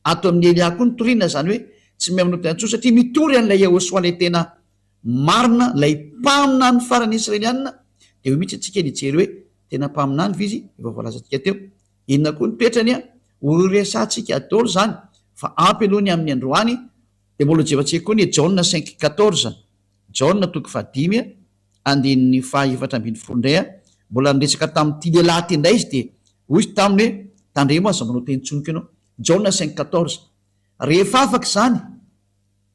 Ato amin'i Elia koa ny toriana izany hoe tsy mihainoa tena intsony satria mitory an'ilay Yehosoa ilay tena marina, ilay mpaminany farany Israelianina. Dia eo mihitsy isika no hijery hoe tena mpaminany ve izy efa voalazantsika teo. Inona koa no toetrany an? Horiresantsika daholo izany fa ampy aloha ny amin'ny androany. Dia mbola hojevantsika koa ny Jaona cinq quatorze. Jaona toko fahadimy andininy fahaefatra ambin'ny folo indray mbola niresaka tamin'ity lehilahy ity indray izy dia hoy izy taminy hoe tandremo aza manao teny tsonika ianao Jaona cinq quatorze rehefa afaka izany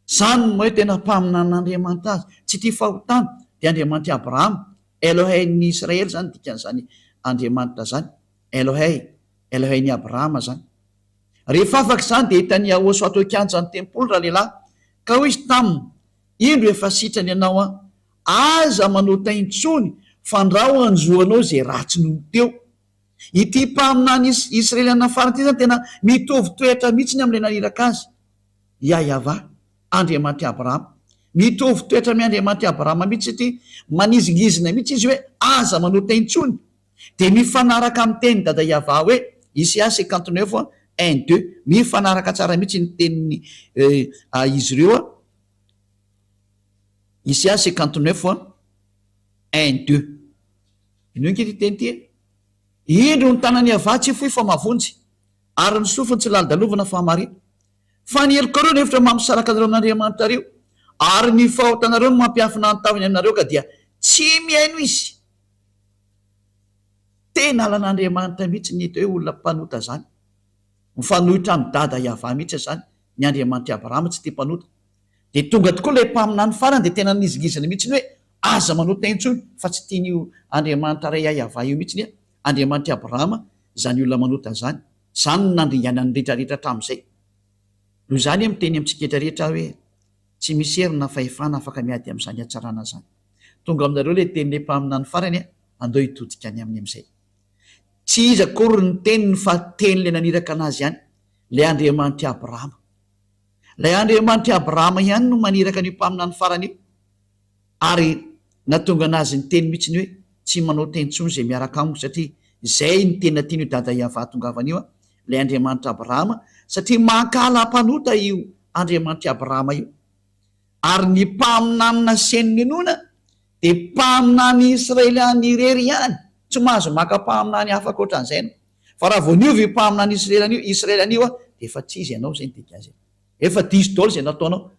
izany no hoe tena mpaminan'Andriamanitra azy tsy tia fahotana dia Andriamanitr'i Abrahama Elohein'ny Israely izany dikan'izany Andriamanitra izany Elohey Elohein'i Abrahama izany rehefa afaka izany dia hitan'i Yahosua teo kianjan'ny tempoly ralehilahy ka hoy izy taminy Indro efa sitrany ianao an! Aza manota intsony fa ndrao hanjoanao izay ratsy nony teo. Ity mpaminany Israeliana farany ity izany tena mitovy toetra mihitsiny amin'ilay naniraka azy, Iahiavà, Andriamanitry Abrahama. Mitovy toetra amin'i Andriamanitry Abrahama mihitsy ity, manizingizina mihitsy izy hoe aza manota intsony. Dia mifanaraka amin'ny tenin'i Dada Yavah hoe, Ici-a c'est quand neuf un deux. Mifanaraka tsara mihitsy ny tenin'i izy ireo. Ici-a c'est quand neuf un deux. Inoy ange ity teny ity e! Indro ny tanan'i Yavah tsy fohy fa mavonjy, ary ny sofiny tsy lalodalovina fa mare. Fa ny helokareo no efitra mampisaraka anareo amin'Andriamanitrareo, ary ny fahotanareo no mampiafina ny tavany aminareo, ka dia tsy mihaino izy. Tena lalan'Andriamanitra mihitsy ny eto hoe olona mpanota izany. Mifanohitra amin'i Dada i Yavah mihitsy izany, ny Andriamanitr'i Abrahama tsy tia mpanota. Dia tonga tokoa ilay mpaminany farany dia tena nizingizina mihitsy hoe aza manota intsony fa tsy tian'io Andriamanitra iray ahy Yavah io mihitsy anie Andriamanitr'i Abrahama izany olona manota izany. Izany no nandringana ny rehetra rehetra hatramin'izay. Noho izany aho miteny amintsika rehetra aho hoe tsy misy hery na fahefana afaka miady amin'izany hatsarana izany. Tonga aminareo ilay tenin'ilay mpaminany farany e, andao hitodika any aminy amin'izay. Tsy izy akory ny teniny fa tenin'ilay naniraka anazy ihany, ilay Andriamanitr'i Abrahama. Ilay Andriamanitr'i Abrahama ihany no maniraka an'io mpaminany farany io, ary nahatonga anazy niteny mihitsy ny hoe, Tsy manao teny intsony izay miaraka amiko, satria izay no tena tian'io Dada Yavah hahatongavana io, ilay Andriamanitr'i Abrahama, satria mankahala mpanota io Andriamanitr'i Abrahama io. Ary ny mpaminany naseho ny inoana dia mpaminany Israeliana irery ihany, tsy mahazo maka mpaminany hafa ankoatran'izay ianao. Fa raha vao niova io mpaminany Israeliana io, Israeliana io, dia efa tsy izy ianao, izay no dikan'izay. Efa diso daholo izay nataonao.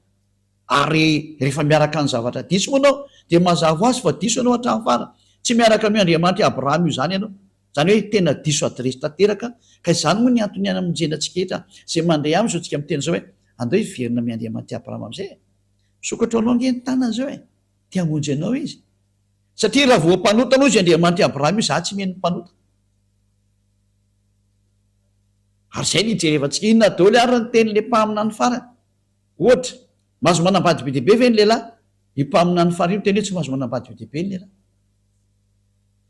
Ary rehefa miaraka amin'ny zavatra diso moa ianao, dia mazava ho azy fa diso ianao hatramin'ny farany. Tsy miaraka amin'io Andriamanitry Abrahama io izany ianao. Izany hoe tena diso adiresy tanteraka ka izany moa ny antony hanamonjena antsika rehetra izay mandre aminy izao tsika miteny izao hoe andao hiverina amin Andriamanity Abraham amizay e! Misokatra anao ange ny tanany izao e! Te hamonjy anao izy satria raha voa mpanota aloha izy Andriamanitry Abraham io za tsy mino mpanota ary izay no hijerevantsika inona daoly ary ny teny le mpaminany farany ohatra mahazo manambady be dia be ve ny lehilahy io mpaminany farany io miteny hoe tsy mahazo manambady be dia be ny lehilahy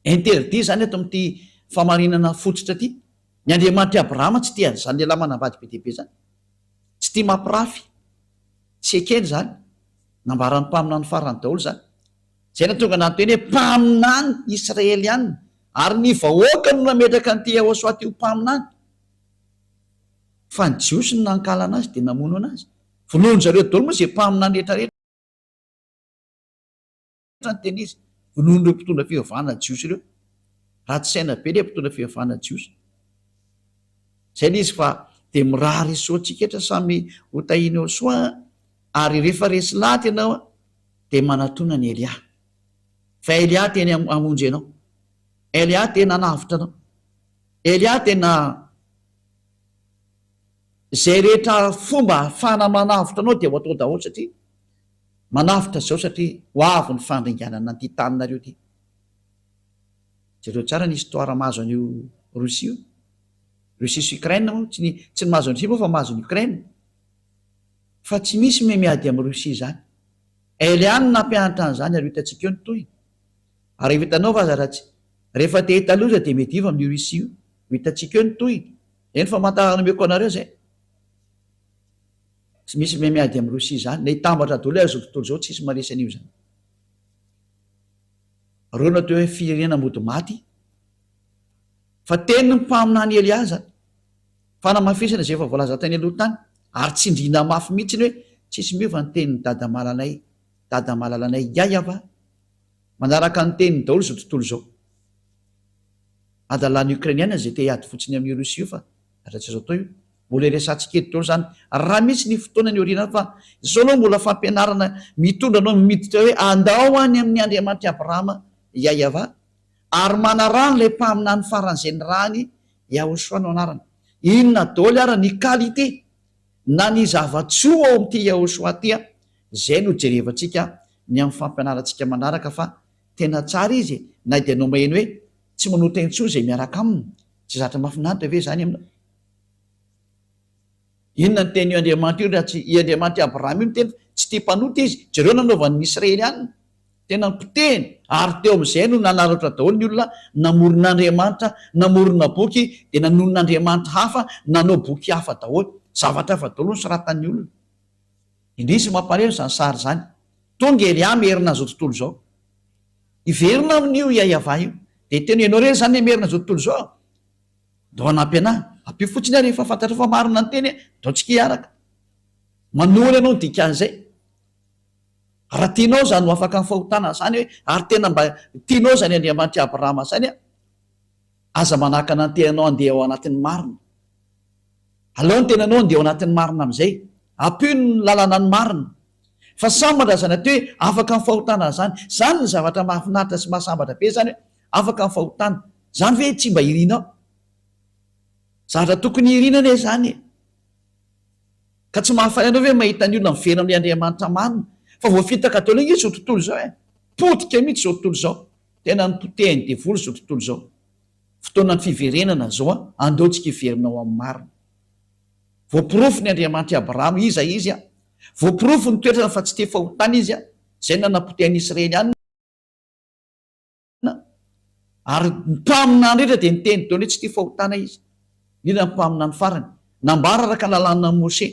Interdit izany eto amin'ity famarinana fototra ity. Ny Andriamanitr'i Abrahama tsy tia an'izany lehilahy manambady be dia be izany. Tsy tia mampirafy. Tsy ekeny izany. Nambaran'ny mpaminany farany daholo izany. Izay nahatonga an'Andry teny hoe mpaminany Israeliana. Ary ny vahoaka no nametraka an'ity Yehosua ity ho mpaminany. Fa ny Jiosy no nankahalana azy dia namono an'azy. Vonoin-dry zareo daholo moa izay mpaminany rehetra rehetra. rehetra ny teny izy, vonoin'ireo mpitondra fivavahana jiosy ireo. Ratsy saina be ilay mpitondra fivavahana jiosy. Izay ilay izy fa dia mirary ny soantsika rehetra samy ho tahina eo soa an! Ary rehefa resy lahatra ianao an, dia manatona an'i Elia. Fa Elia teny hamonjy anao. Elia tena hanavotra anao. Elia tena Izay rehetra fomba ahafahana manavotra anao dia ho atao daholo satria manavotra izao satria ho avy ny fandringanana an'ity taninareo ity. Jereo tsara ny histoire mahazo an'io Russie io. Russie sy Ukraine moa tsy ny tsy ny mahazo an'i Russie moa fa mahazo an'i Ukraine. Fa tsy misy miha miady amin'i Russie izany. Elle ihany no nampianatra an'izany ary ho hitantsika eo ny tohiny. Ary rehefa hitanao fa aza raha tsy rehefa te hahita loza dia miadiva amin'io Russie io. Ho hitantsika eo ny tohiny. Eny famantarana omeko anareo zay. Tsy misy miha miady am Russie zany. Le hitambatra doly ary zao tontolo zao tsisy maresy anio zany. Reo no atao hoe firenena mody maty. Fa tenin'ny mpaminany Elia zany. Fanamafisana zay efa voalaza tany aloha tany. Ary tsindriana mafy mihitsiny hoe tsisy miova ny tenin'i Dada Malalanay. Dada Malalanay Yayava. Manaraka ny teniny daholo izao tontolo izao. Hadalana Ukrainiana izay te hiady fotsiny amin'io Russe io fa hatratr'izao tontolo io mbola iresahantsika eto daholo izany raha misy ny fotoana any aoriana any fa izao aloha mbola fampianarana mitondra anao miditra hoe andao any amin'ny Andriamanitr'i Abrahama Yahyawa ary manaraha an'ilay mpaminany faran'izay nirahany Yahoshua no anarany. Inona daholo ary ny qualité Na ny zava-tsoa ao amin'ity Yahoshuah ity an, izay no jerevantsika ny amin'ny fampianarantsika manaraka fa tena tsara izy e, na dia nomehiny hoe tsy manota intsony izay miaraka aminy, tsy zatra mahafinaritra ve izany aminao? Inona no teny io Andriamanitra io raha tsy i Andriamanitra i Abrahama io no teny fa tsy tia mpanota izy? Jereo ny nanaovany ny Israelianina. Tena nipotehiny, ary teo amin'izay no nanararaotra daholo ny olona, namorona andriamanitra, namorona boky, dia nanonona andriamanitra hafa, nanao boky hafa daholo. Zavatra hafa daholo no soratan'ny olona. Indrisy ny mampahaleo izany sary izany. Tonga ery ahy Merina izao tontolo izao. Hiverina amin'io i Ayavah io. Dia hiteny hoe, ianao irery izany ilay Merina izao tontolo izao? Ndao hanampy anahy. Ampio fotsiny aho rehefa fantatrao fa marina ny teny e! Ndao tsika hiaraka. Manoro ianao ny dikan'izay. Raha tianao izany ho afaka amin'ny fahotana izany hoe, ary tena mba tianao izany Andriamanitr'i Abrahama izany, aza manakana ny tenanao handeha ao anatin'ny marina. Alao ny tenanao handeha ao anatin'ny marina amin'izay. Ampio ny lalana ny marina. Fa sambatra izany atao hoe afaka amin'ny fahotana izany. Izany no zavatra mahafinaritra sy mahasambatra be izany hoe, afaka amin'ny fahotana. Izany ve tsy mba irinao? Zavatra tokony irina anie izany e! Ka tsy mahafaly anao ve mahita ny olona miverina amin'ny Andriamanitra marina? Fa voafitaka daholo ange izao tontolo izao e! Potika mihitsy izao tontolo izao! Tena nopotehin'ny devoly izao tontolo izao! Fotoanan'ny fiverenana izao an! Andao tsika hiverina ao amin'ny marina! Voaporofo ny Andriamanitra i Abrahama iza izy an! Voaporofo ny toetrany fa tsy te fahotana izy an! Izay no nanapotehan'ny Israely ann! Na, ary ny mpaminany rehetra dia niteny daholo hoe tsy tia fahotana izy, indrindra ny mpaminany farany. Nambara araka ny lalànan'i Mosè,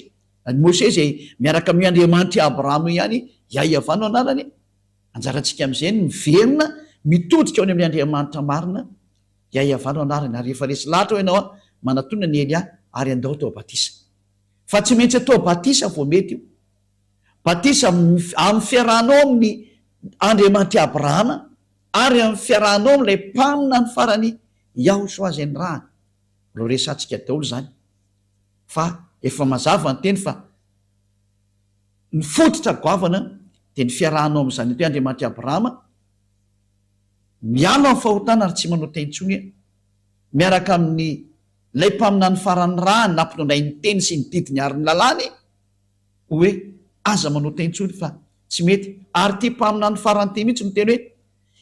i Mosè izay miaraka amin'io Andriamanitr'i Abrahama io ihany, Iahiavà no anarany e. Anjarantsika amin'izay ny miverina mitodika ao ny amin'ilay Andriamanitra marina, Iahiavà no anarany. Ary efa resy lahatra hoy ianao, manatona ny Elia ary andao atao batisa. Fa tsy maintsy atao batisa vao mety io. Batisa amin'ny fiarahanao amin'i Andriamanitr'i Abrahama ary amin'ny fiarahanao amin'ilay Mpaminany farany Yahushua izay nirahany. Mbola ho resahantsika daholo izany fa efa mazava ny teny fa ny fototra goavana dia ny fiarahanao amin'ny Zanak'i Andriamanitr'i Abrahama miala amin'ny fahotana ary tsy manao tay intsony miaraka amin'ilay Mpaminany farany nirahany nampitondray ny teny sy ny didiny ary ny lalàny. hoe aza manota intsony fa tsy mety. Ary ity mpaminany farany ity mihitsy miteny hoe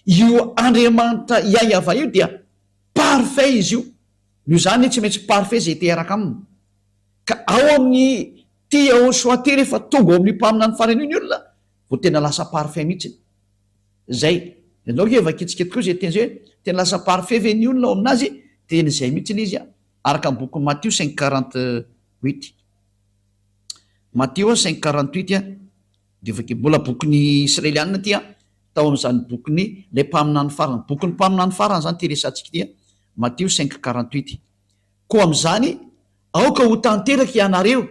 io Andriamanitra Iahiavah io dia parfait izy io, noho izany anie tsy maintsy parfait izay te-hiaraka aminy. Ka ao amin'ny ity Yahoshua ity rehefa tonga ao amin'io mpaminany farany io ny olona vao tena lasa parfait mihitsy. Izay. Ianao nge vakitsika tokoa izay teny izay hoe tena lasa parfait ve ny olona ao amin'azy? Tena izay mihitsy ilay izy araka ny bokin'i Matio cinq quarante huit. Mateo cinq quarante huit dia vakia mbola bokin'ny Israelianina ity an, tao amin'izany bokin'ny ilay mpaminany farany, bokin'ny mpaminany farany izany ity resahantsika ity an, Mateo cinq quarante huit, koa amin'izany aoka ho tanteraka ianareo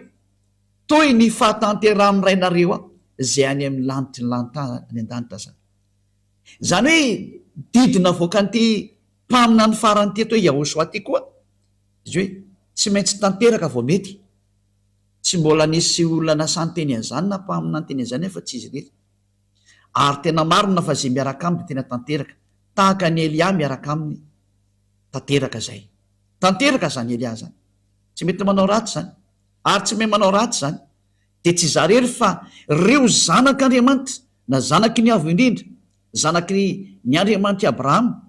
toy ny fahatanterahan'ny Rainareo izay any amin'ny lanitry ny lanitra any an-danitra izany. Izany hoe didy navoakan'ity. Mpaminany farany teto hoe Yahoshua ity koa izy hoe tsy maintsy tanteraka vao mety. Tsy mbola nisy olona nasan-teny an'izany na mpaminany teny an'izany afa tsy izy irery. Ary tena marina fa izay miaraka aminy dia tena tanteraka, tahaka an'i Elia miaraka aminy tanteraka izay. Tanteraka izany Elia izany. Tsy mety manao ratsy izany. Ary tsy mahay manao ratsy izany. Dia tsy izaho irery fa ireo zanak'Andriamanitra na zanaky ny Avo Indrindra Zanaky ny Andriamanitry Abrahama,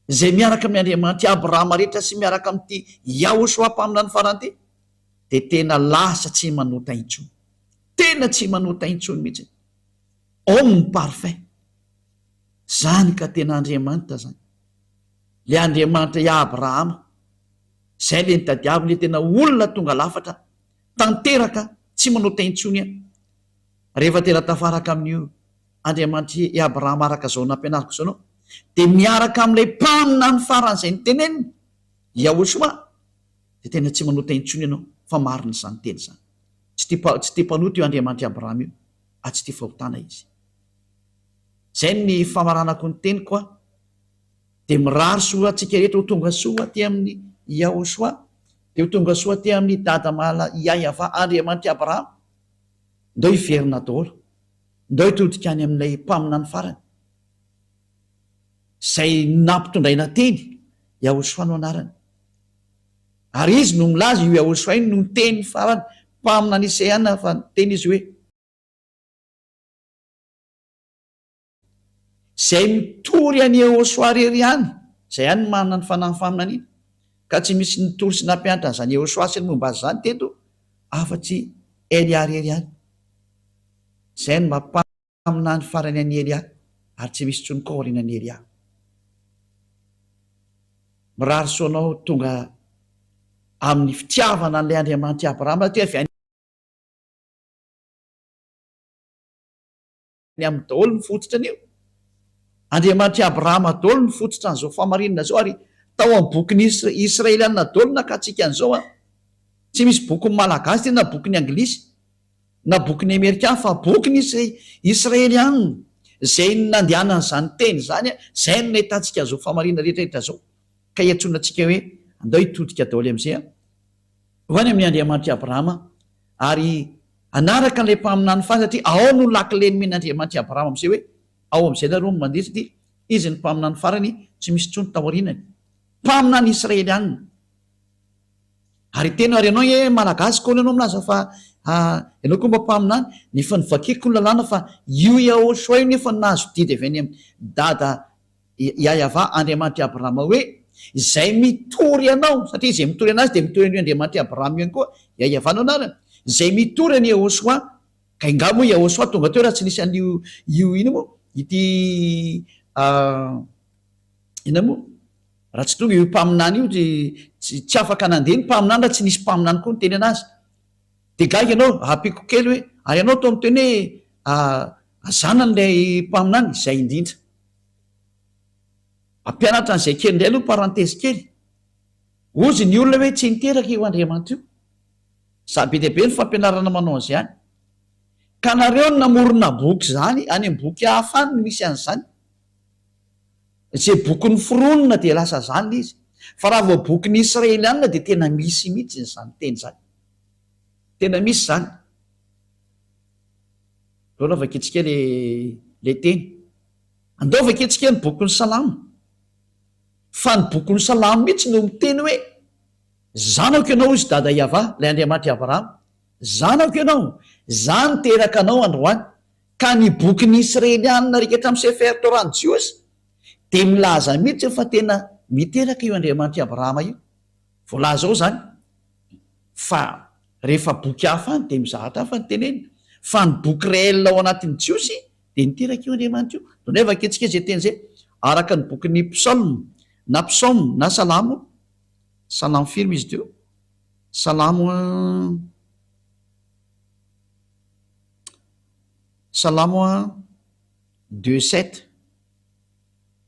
izay miaraka amin'ny Andriamanitry Abrahama rehetra sy miaraka amin'ity Yahoshuah Mpaminany Faran'ity, dia tena lasa tsy manota intsony. Tena tsy manota intsony mihitsy. Homme parfait. Izany ka tena Andriamanitra izany. Ilay Andriamanitra i Abrahama. Izay ilay nitadiaviny ilay tena olona tonga lafatra tanteraka tsy manota intsony. Rehefa tena tafaraka amin'io Andriamanitry i Abrahama araka izao nampianariko izao ianao, dia miaraka amin'ilay mpaminany faran'izay niteneniny, Yahushua, dia tena tsy manota intsony ianao fa marina izany teny izany. Tsy tia mpa, tsy tia mpanota io Andriamanitr'i Abrahama io, ary tsy tia fahotana Izy. Izay ny famaranako ny teniko aho. Dia mirary soa antsika rehetra ho tonga soa aty amin'i Yahushua, dia ho tonga soa aty amin'i Dada Mahala Yahya Andriamanitr'i Abrahama, Ndao hiverina daholo. Ndao hitodika any amin'ilay mpaminany farany, izay nampitondraina teny, Yahoshua no anarany. Ary izy no milaza, io Yahoshua io no niteny farany, mpaminany Isaiah nafa, niteny izy hoe. izay mitory any Ehosoa irery ihany, izay ihany no manana ny fanahin'ny faminaniana, ka tsy misy nitory sy nampianatra an'izany Ehosoa sy ny momba azy izany teto afa-tsy Elia irery ihany. Izay no mba mpaminany farany an'i Elia, ary tsy misy intsony koa aorianan'i Elia. Mirary soa anao tonga amin'ny fitiavana an'ilay Andriamanitr'i Abrahama, satria avy any. ny amin'ny daholo ny fototra anio. Andriamanitr'i Abrahama daholo ny fototra an'izao fahamarinana izao ary tao amin'ny bokin'ny Israelianina daholo nakatsika an'izao an! Tsy misy bokin'ny Malagasy tena na bokin'ny Anglisy na bokin'ny Amerikana fa bokin'ny Israelianina izay nandehanany izany teny izany an! Izay no nahitantsika an'izao fahamarinana rehetra rehetra izao ka iantsoana antsika hoe andao hitodika daholo amin'izay an! Ho any amin'i Andriamanitr'i Abrahama ary hanaraka an'ilay mpaminany faly satria ao no lakile nomen'i Andriamanitr'i Abrahama amin'izay hoe, ao amin'izay nareo no mandeha satria Izy no mpaminany farany tsy misy intsony taorianany. Mpaminany Israelianina. Ary hiteny aho ary ianao ee Malagasy kony ianao milaza fa ianao koa mba mpaminany nefa ny vakiko ny lalàna fa io Yahoshua io nefa nahazo didy avy any amin'i Dada Iahiavà Andriamanitr'i Abrahama hoe, Izay mitory anao, satria izay mitory anazy dia mitory an'io Andriamanitr'i Abrahama io ihany koa, Iahiavà no anarany, izay mitory an'i Iehôsoà, ka ingahy moa Iehôsoà tonga teo raha tsy nisy an'io io inona moa ity inona moa raha tsy tonga io mpaminany io dia tsy afaka nandeha ny mpaminany raha tsy nisy mpaminany koa niteny anazy. Dia gaga ianao, hahapiko kely hoe, ary ianao toa miteny hoe, Aza anan'ilay mpaminany, izay indrindra. Hampianatra an'izay kely indray aloha parenthèse kely. Hozy ny olona hoe tsy niteraka io Andriamatoa io. Za be dia be ny fampianarana manao an'izany. Ka nareo no namorona boky zany, any am boky hafa any no misy an'izany. Ze boky noforonina dia lasa zany le izy. Fa raha vao boky ny Israelianina dia tena misy mihitsy izany teny izany. Tena misy izany. Aleo aloha vakintsika le le teny. Andao vakintsika ny bokin'ny salamo. Fa ny bokin'ny salamo mihitsy no miteny hoe, zanako ianao hozy dada Iavah, ilay Andriamanitr'i Abrahama, zanako ianao, zah niteraka anao androany, ka ny bokin'ny Isrelianina rekhetra amin'ny Sefer Torah ny Jiosy dia milaza mihitsy fa tena miteraka io Andriamanitr'i Abrahama io. Voalaza ao izany fa rehefa boky hafa any dia mizahatra hafa ny tenenina, fa ny boky réel ao anatin'ny Jiosy dia niteraka io Andriamanitra io. Donay vakentsika izay teny izay, araka ny bokin'ny Psaumes na Psaumes na Salamo, Salamo firy moa izy ity io? Salamo Salamo deux sept,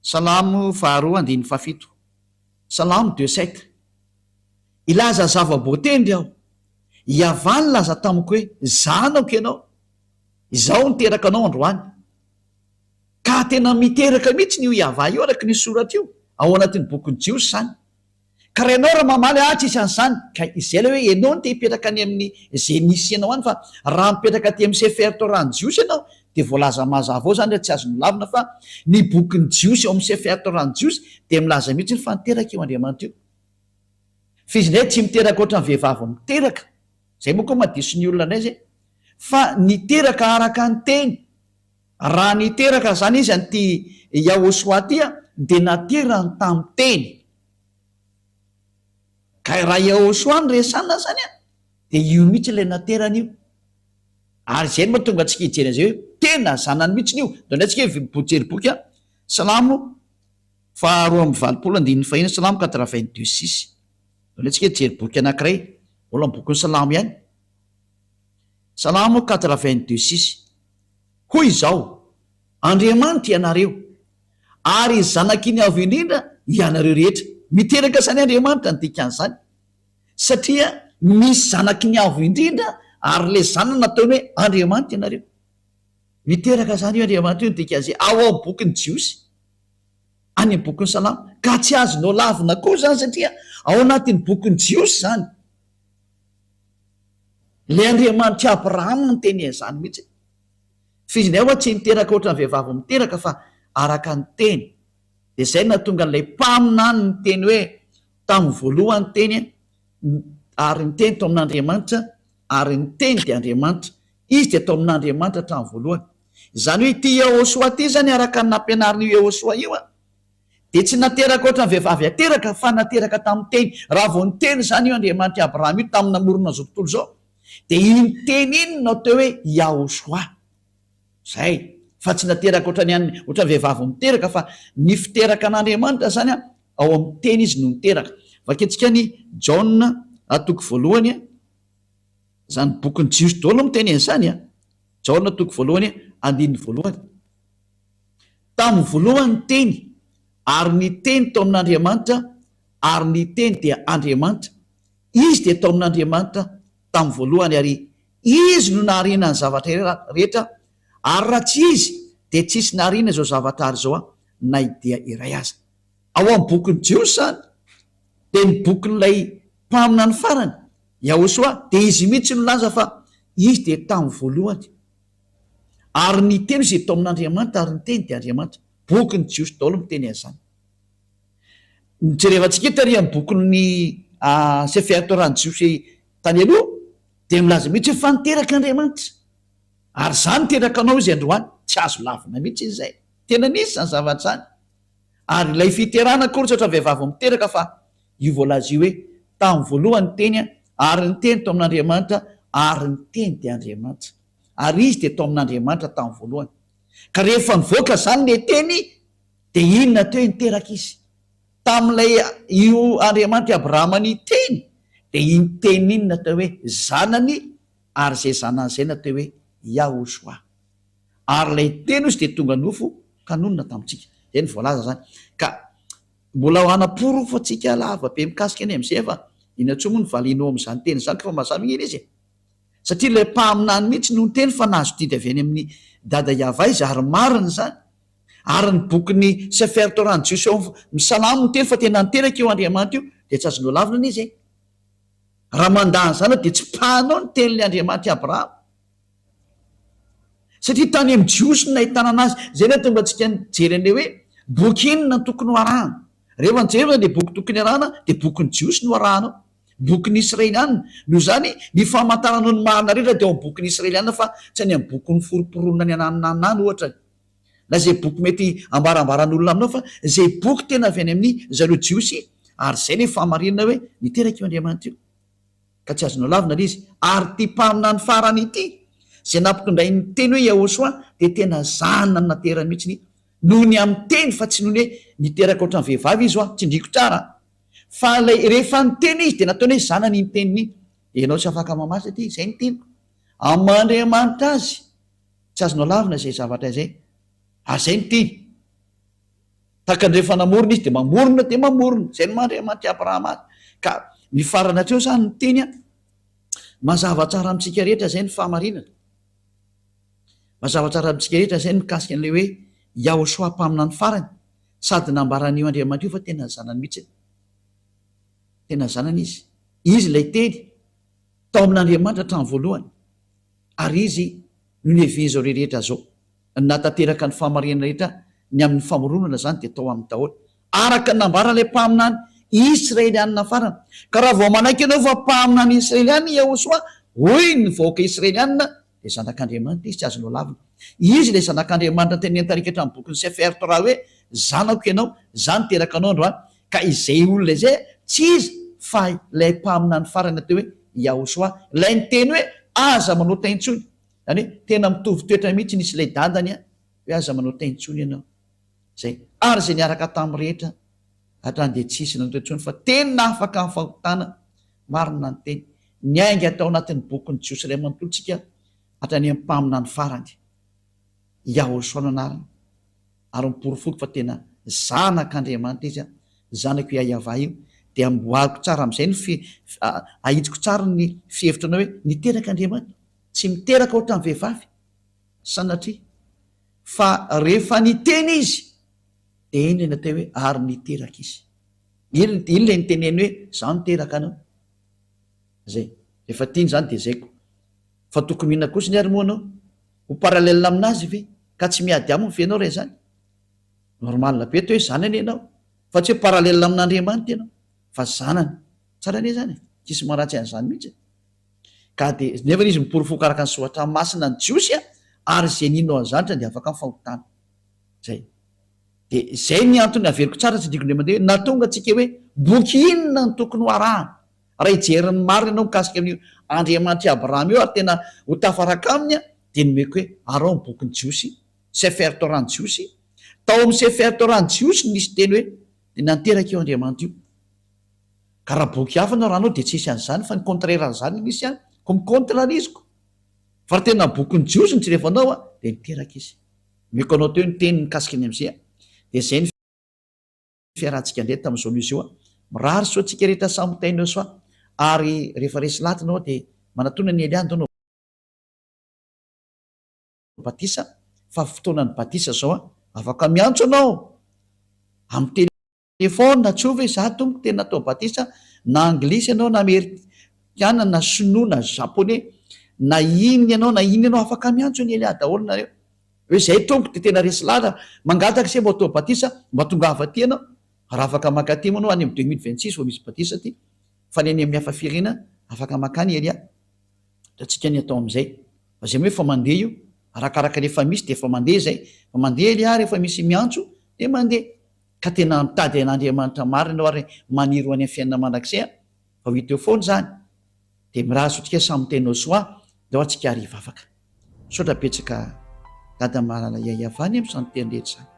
Salamo faharoa andininy fahafito, Salamo deux sept, Hilaza zava-boatendry aho, i Yavah nilaza tamiko hoe, Zanako ianao, izaho niteraka anao androany. Ka tena miteraka mihitsy io Yavah io araka ny soratra io ao anatin'ny bokin'ny Jiosy izany. Ka raha ianao raha mamaly ahy tsisy an'izany, ka izay ilay hoe ianao no te hipetraka any amin'ny izay misy anao any fa raha mipetraka aty amin'ny Sefer Torah-n'ny Jiosy ianao dia voalaza mazava ao izany hoe tsy azo nolavina fa ny bokin'ny Jiosy ao amin'ny Sefer Torah-n'ny Jiosy dia milaza mihitsy hoe fa niteraka io Andriamanitra io. Fa izy indray tsy miteraka ohatran'ny vehivavy miteraka, izay moa koa madiso ny olona indray izay, fa niteraka araka ny teny. Raha niteraka izany izy an'ity Yahoshua ity dia naterany tamin'ny teny. Ka raha Yahoshua no resana izany dia io mihitsy ilay naterany io. Ary izay no mahatonga antsika hijery an'izay hoe tena zanany mihitsy io. Dia indray tsika hijery boky Salamo faha roa amby valopolo andininy fahiny, Salamo quatre-vingt-deux six. Dia indray tsika hijery boky anankiray, mbola ny bokin'ny Salamo ihany, Salamo quatre-vingt-deux six. Hoy izao, Andriamanitra ianareo, ary zanak'Iny Avo Indrindra ianareo rehetra. Miteraka izany Andriamanitra ny dikan'izany. satria misy zanaky ny Avo Indrindra ary ilay zanany nataony hoe Andriamanitra ianareo. Miteraka izany io Andriamanitra io ny DKJ ao amin'ny bokin'ny Jiosy, any amin'ny bokin'ny Salamo, ka tsy azonao lavina koa izany satria ao anatin'ny bokin'ny Jiosy izany. Ilay Andriamanitr'i Abrahama no niteny an'izany mihitsy. F'izy indray ho'a tsy miteraka ohatran'ny vehivavy miteraka fa araka ny teny. Dia izay no nahatonga an'ilay mpaminany niteny hoe, Tamin'ny voalohany ny Teny, ary ny Teny tao amin'Andriamanitra, ary ny Teny dia Andriamanitra. Izy dia tao amin'Andriamanitra hatramin'ny voalohany. Izany hoe ity Yehôsoa ity izany, araka ny nampianarin'io Yehôsoa io, dia tsy nateraka hoatran'ny vehivavy ateraka, fa nateraka tamin'ny Teny. Raha vao niteny izany io Andriamanitr'i Abrahama io, tamin'ny namoronan'izao tontolo izao, dia iny Teny iny no atao hoe Yahôsoa. Zay. Fa tsy nateraka otrany an'ny otrany vehivavy miteraka fa ny fiteraka an'Andriamanitra zany an ao amin'ny teny izy no niteraka. Vakintsika any Jaona a toko voalohany a, zany bokin'ny jiosy daholo no miteny an'izany a, Jaona toko voalohany andininy voalohany. Tamin'ny voalohany ny teny ary ny teny tao amin'Andriamanitra ary ny teny dia Andriamanitra. Izy dia tao amin'Andriamanitra tamin'ny voalohany ary Izy no nahariana ny zavatra rehetra, ary raha tsy Izy dia tsy hisy nahariana izao zavatra ary izao na idea iray aza. Ao amin'ny bokin'ny Jiosy izany dia ny bokin'ilay mpaminany farany, Yahoshua, dia izy mihitsy no nilaza fa Izy dia tamin'ny voalohany, ary ny Teny izay tao amin'Andriamanitra, ary ny Teny dia Andriamanitra. Bokin'ny Jiosy daholo miteny an'izany. Jerevantsika eto ary amin'ny bokin'ny Sefer Torah-n'ny Jiosy tany aloha, Dia milaza mihitsy hoe fa niteraka Andriamanitra ary izaho niteraka anao izy androany, tsy azo lavina mihitsy izy izay, tena nisy izany zavatra izany, ary ilay fiterana akory tsy ohatra vehivavy vao miteraka fa io voalaza io hoe tamin'ny voalohany ny Teny ary ny Teny tao amin'Andriamanitra ary ny Teny dia Andriamanitra ary Izy dia tao amin'Andriamanitra tamin'ny voalohany ka rehefa nivoaka izany le Teny dia inona teo niteraka Izy? Tamin'ilay io Andriamanitry Abrahama niteny dia iny teny iny natao hoe zanany ary izay zanany izay natao hoe Yahoshuah. Ary ilay teny ozy dia tonga nofo ka nonina tamintsika. Izay no voalaza izany. Ka mbola hanaporofo antsika lava be mikasika ny amin'izay fa inona intsony moa no valianao amin'izany teny izany ka fa mazava ange izy e. Satria ilay mpaminany mihitsy no niteny fa nahazo didy avy any amin'ny Dada Yavaiz ary marina izany. Ary ny bokin'ny Sefer Torah ny Jiosy ao amin'ny Salamo miteny fa tena niteraka io Andriamanitra io dia tsy azo nolavina ny izy e! Raha mandà an'izany aho dia tsy mpanao ny tenin'ilay Andriamanitra i Abrahama. Satria tany amin'ny Jiosy no nahitana anazy. Izay no hahatonga antsika nijery an'ilay hoe boky inona no tokony ho arahana. Rehefa nijery ianao dia boky tokony arahana dia bokin'ny Jiosy no arahanao. Bokin'ny Israeliana. Noho izany, ny famantaranao ny marina rehetra dia ao amin'ny bokin'ny Israeliana fa tsy any amin'ny bokin'ny Forom-pironana ny Anananana any ohatra. na izay boky mety hambarambaran'olona aminao fa izay boky tena avy any amin'ny zareo jiosy ary izay ilay fahamarinana hoe niteraka io Andriamanitra io ka tsy azonao lavina ilay izy ary ity mpaminany farany ity izay nampitondray ny teny hoe Yahoshua dia tena zanany naterany mihitsy ny noho ny amin'ny teny fa tsy noho ny hoe niteraka ohatran'ny vehivavy izy hoa tsindriko tsara fa ilay rehefa niteny izy dia nataony hoe zanany ny teniny ianao tsy afaka mamaly satria izay ny teniko amin'Andriamanitra azy Tsy azonao lavina izay zavatra izay, ary izay no tiany. Tahaka ny rehefa namorona Izy, dia mamorona dia mamorona. Izay no maha Andriamanitr'i Abrahama Azy. Ka ny farany hatreo izany ny teny an. Mazava tsara amintsika rehetra izay ny fahamarinana. Mazava tsara amintsika rehetra izay ny mikasika an'ilay hoe Yahoshua Mpaminany Farany, sady nambaran'io Andriamanitra io fa tena ny Zanany mihitsy. Tena ny Zanany Izy. Izy ilay Teny, tao amin'Andriamanitra hatramin'ny voalohany. Ary izy no nihevean'izao rehetra izao. Nahatanteraka ny fahamarinana rehetra ny amin'ny famoronana izany dia tao aminy daholo. Araka ny nambaran'ilay mpaminany Israelianina farany, Ka raha vao manaiky anao fa mpaminany Israelianina i Yehosua, hoy ny vahoaka Israelianina, dia zanak'Andriamanitra izy, tsy azonao lavina. Izy ilay zanak'Andriamanitra tenenin'ny tarika hatramin'ny bokin'ny Sefer Torah hoe, Zanako ianao, izaho niteraka anao androany. Ka izay olona izay tsy iza fa ilay mpaminany farany atao hoe Yahosoa, ilay niteny hoe, Aza manao tay intsony. Izany hoe tena mitovy toetra mihitsy nisy ilay dadany hoe aza manao tay intsony ianao. Izay. Ary izay niaraka taminy rehetra hatrany dia tsy hisy nanao tay intsony fa tena afaka amin'ny fahotana. Marina ny teny. Niainga tao anatin'ny bokin'ny Jiosy iray manontolo tsika hatrany amin'ny mpaminany farany. Yahweh soa no anarany, ary miporofoko fa tena zanak' Andriamanitra izy aho, zanako i Ahiavah io, dia amboariko tsara amin'izay ny fi, ahitsiko tsara ny fihevitra anao hoe niteraka Andriamanitra, tsy miteraka ohatran'ny vehivavy, sanatria, fa rehefa niteny izy, dia iny ilay natao hoe ary niteraka izy, iny iny ilay niteneny hoe izaho niteraka anao, izay, rehefa tiany izany dia izay ko. Fa tokony inona kosa ny ary moa anao? Ho parallel aminazy ve? Ka tsy miady aminy ve ianao raha izany? Normal be teo hoe izany anie ianao fa tsy hoe parallel amin'Andriamanitra ianao fa zanany. Tsara anie izany e! Tsisy maharatsy an'izany mihitsy e! Ka dia nefa izy miporofoka araka ny soratra masina ny Jiosy a! ary izay nino an'izany tsy handeha afaka ny fahotana. Izay. Dia izay ny antony averiko tsara tsy adinoko indray mandeha hoe nahatonga antsika hoe boky inona no tokony ho arahana? Raha hijery ny marina ianao mikasika an'io Andriamanitr'i Abrahama io ary tena ho tafaraka aminy dia nomeko hoe ary ao amin'ny bokin'ny Jiosy, Sefer Torah-n'ny Jiosy, tao amin'ny Sefer Torah-n'ny Jiosy no nisy teny hoe dia nanteraka io Andriamanitra io. Ka raha boky hafa no arahanao dia tsy hisy an'izany fa ny contraire an'izany no misy any, koa mi-contrarieziko. Fa raha tena bokin'ny Jiosy no jerevanao dia niteraka izy. Nomeko anao teo ny teniny mikasika ny amin'izay dia izay ny. fiarahantsika indray tamin'izao noho izao. Mirary soa antsika rehetra samy mitaina eo soa ary rehefa resy lahat ianao dia manatona an'i Elia ndao no batisa fa fotoanan'ny batisa zao an! Afaka miantso anao amin'ny telephone tsy ovy za tompoko te natao batisa na anglisy ianao na amerikana na sinoa na japonais na inn ianao na inn ianao afaka miantso an'i Elia daholo nareo. Hoe zay Tompo de tena resy lala, mangataka se mba atao batisa mba tongava aty ianao, raha afaka maka aty moa anao any am deux mille vingt six vao misy batisa aty, fa ny any amin'ny hafa firena afaka maka any ery a, hitantsika ny atao amzay, fa zay moa efa mandeha io, arakaraka le efa misy de efa mandeha zay, fa mandeha ery a rehefa misy miantso de mandeha, ka tena mitady an'Andriamanitra marina ianao ary maniry ho any am fiainana mandrakizay a. Vao hita eo foana izany dia miraha zotika sans miteny au soin dia ao antsika ary hivavaka. Misaotra betsaka Dada malala Yayava anie amin'izany teny rehetra izany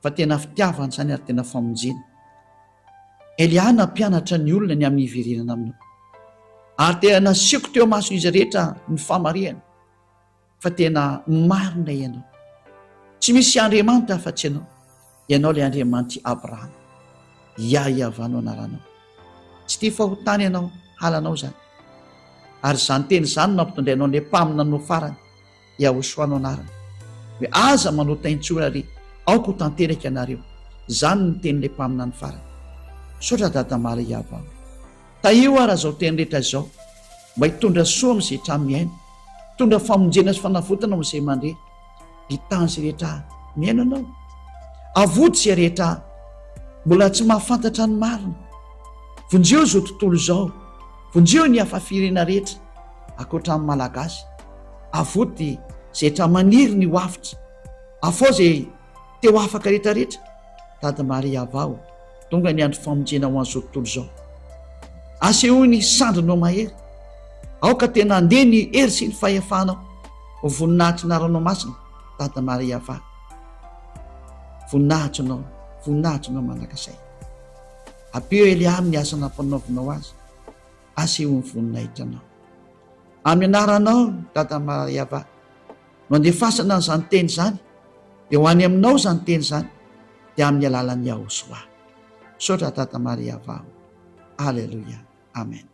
fa tena fitiavana izany ary tena famonjena. Eliana hampianatra ny olona ny amin'ny hiverenana aminao ary dia nasiako teo imason'izy rehetra ny famarihana. fa tena marina ianao. Tsy misy Andriamanitra afa-tsy ianao. Ianao ilay Andriamanitry Abrahama. Yah Iavah no anaranao. Tsy tia fahotana ianao, halanao izany. Ary izany teny izany no nampitondrainao an'ilay mpaminany no farany, Yahoshua no anarany. Hoe aza manota intsony ary aoka ho tanteraka ianareo. Izany no tenin'ilay mpaminany farany. Misaotra Dada Mala Iavah o. Tahio ara zao teny rehetra izao mba hitondra soa am ze tra miaina, hitondra famonjena sy fanavotana ho ze mandre, hitan ze rehetra miaina anao, avoty ze rehetra mbola tsy mahafantatra ny marina, vonjeo zo tontolo zao, vonjeo ny hafa firena rehetra akoatra ny malagasy, avoty ze tra maniry ny ho avitra, afao ze. Teo afaka retraretra, Dada Maria Avao, tonga ny andro famonjena ho an'izao tontolo izao. Asehoy ny sandrinao mahery. Aoka tena handeha ny hery sy ny fahefanao ho voninahitry ny Aranao Masina, Dada Maria Avao. Voninahitrinao, voninahitrinao mandrakasay. Ampio Eliam ny asa nampanaovinao azy. Asehoy ny voninahitranao. Amin'ny anaranao, Dada Maria Avao. no andefasana an'izany teny izany dia ho any aminao izany teny izany dia amin'ny alalan'i Yahosoa. Misaotra Tata Maria Vaho. Aleloia. Amen.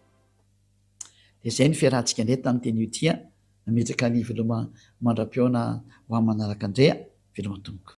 Dia izay ny fiarahantsika indray tamin'ny teny io tia nametraka ny veloma mandra-pihaona ho amin'ny manaraka indray a. Veloma tompoko.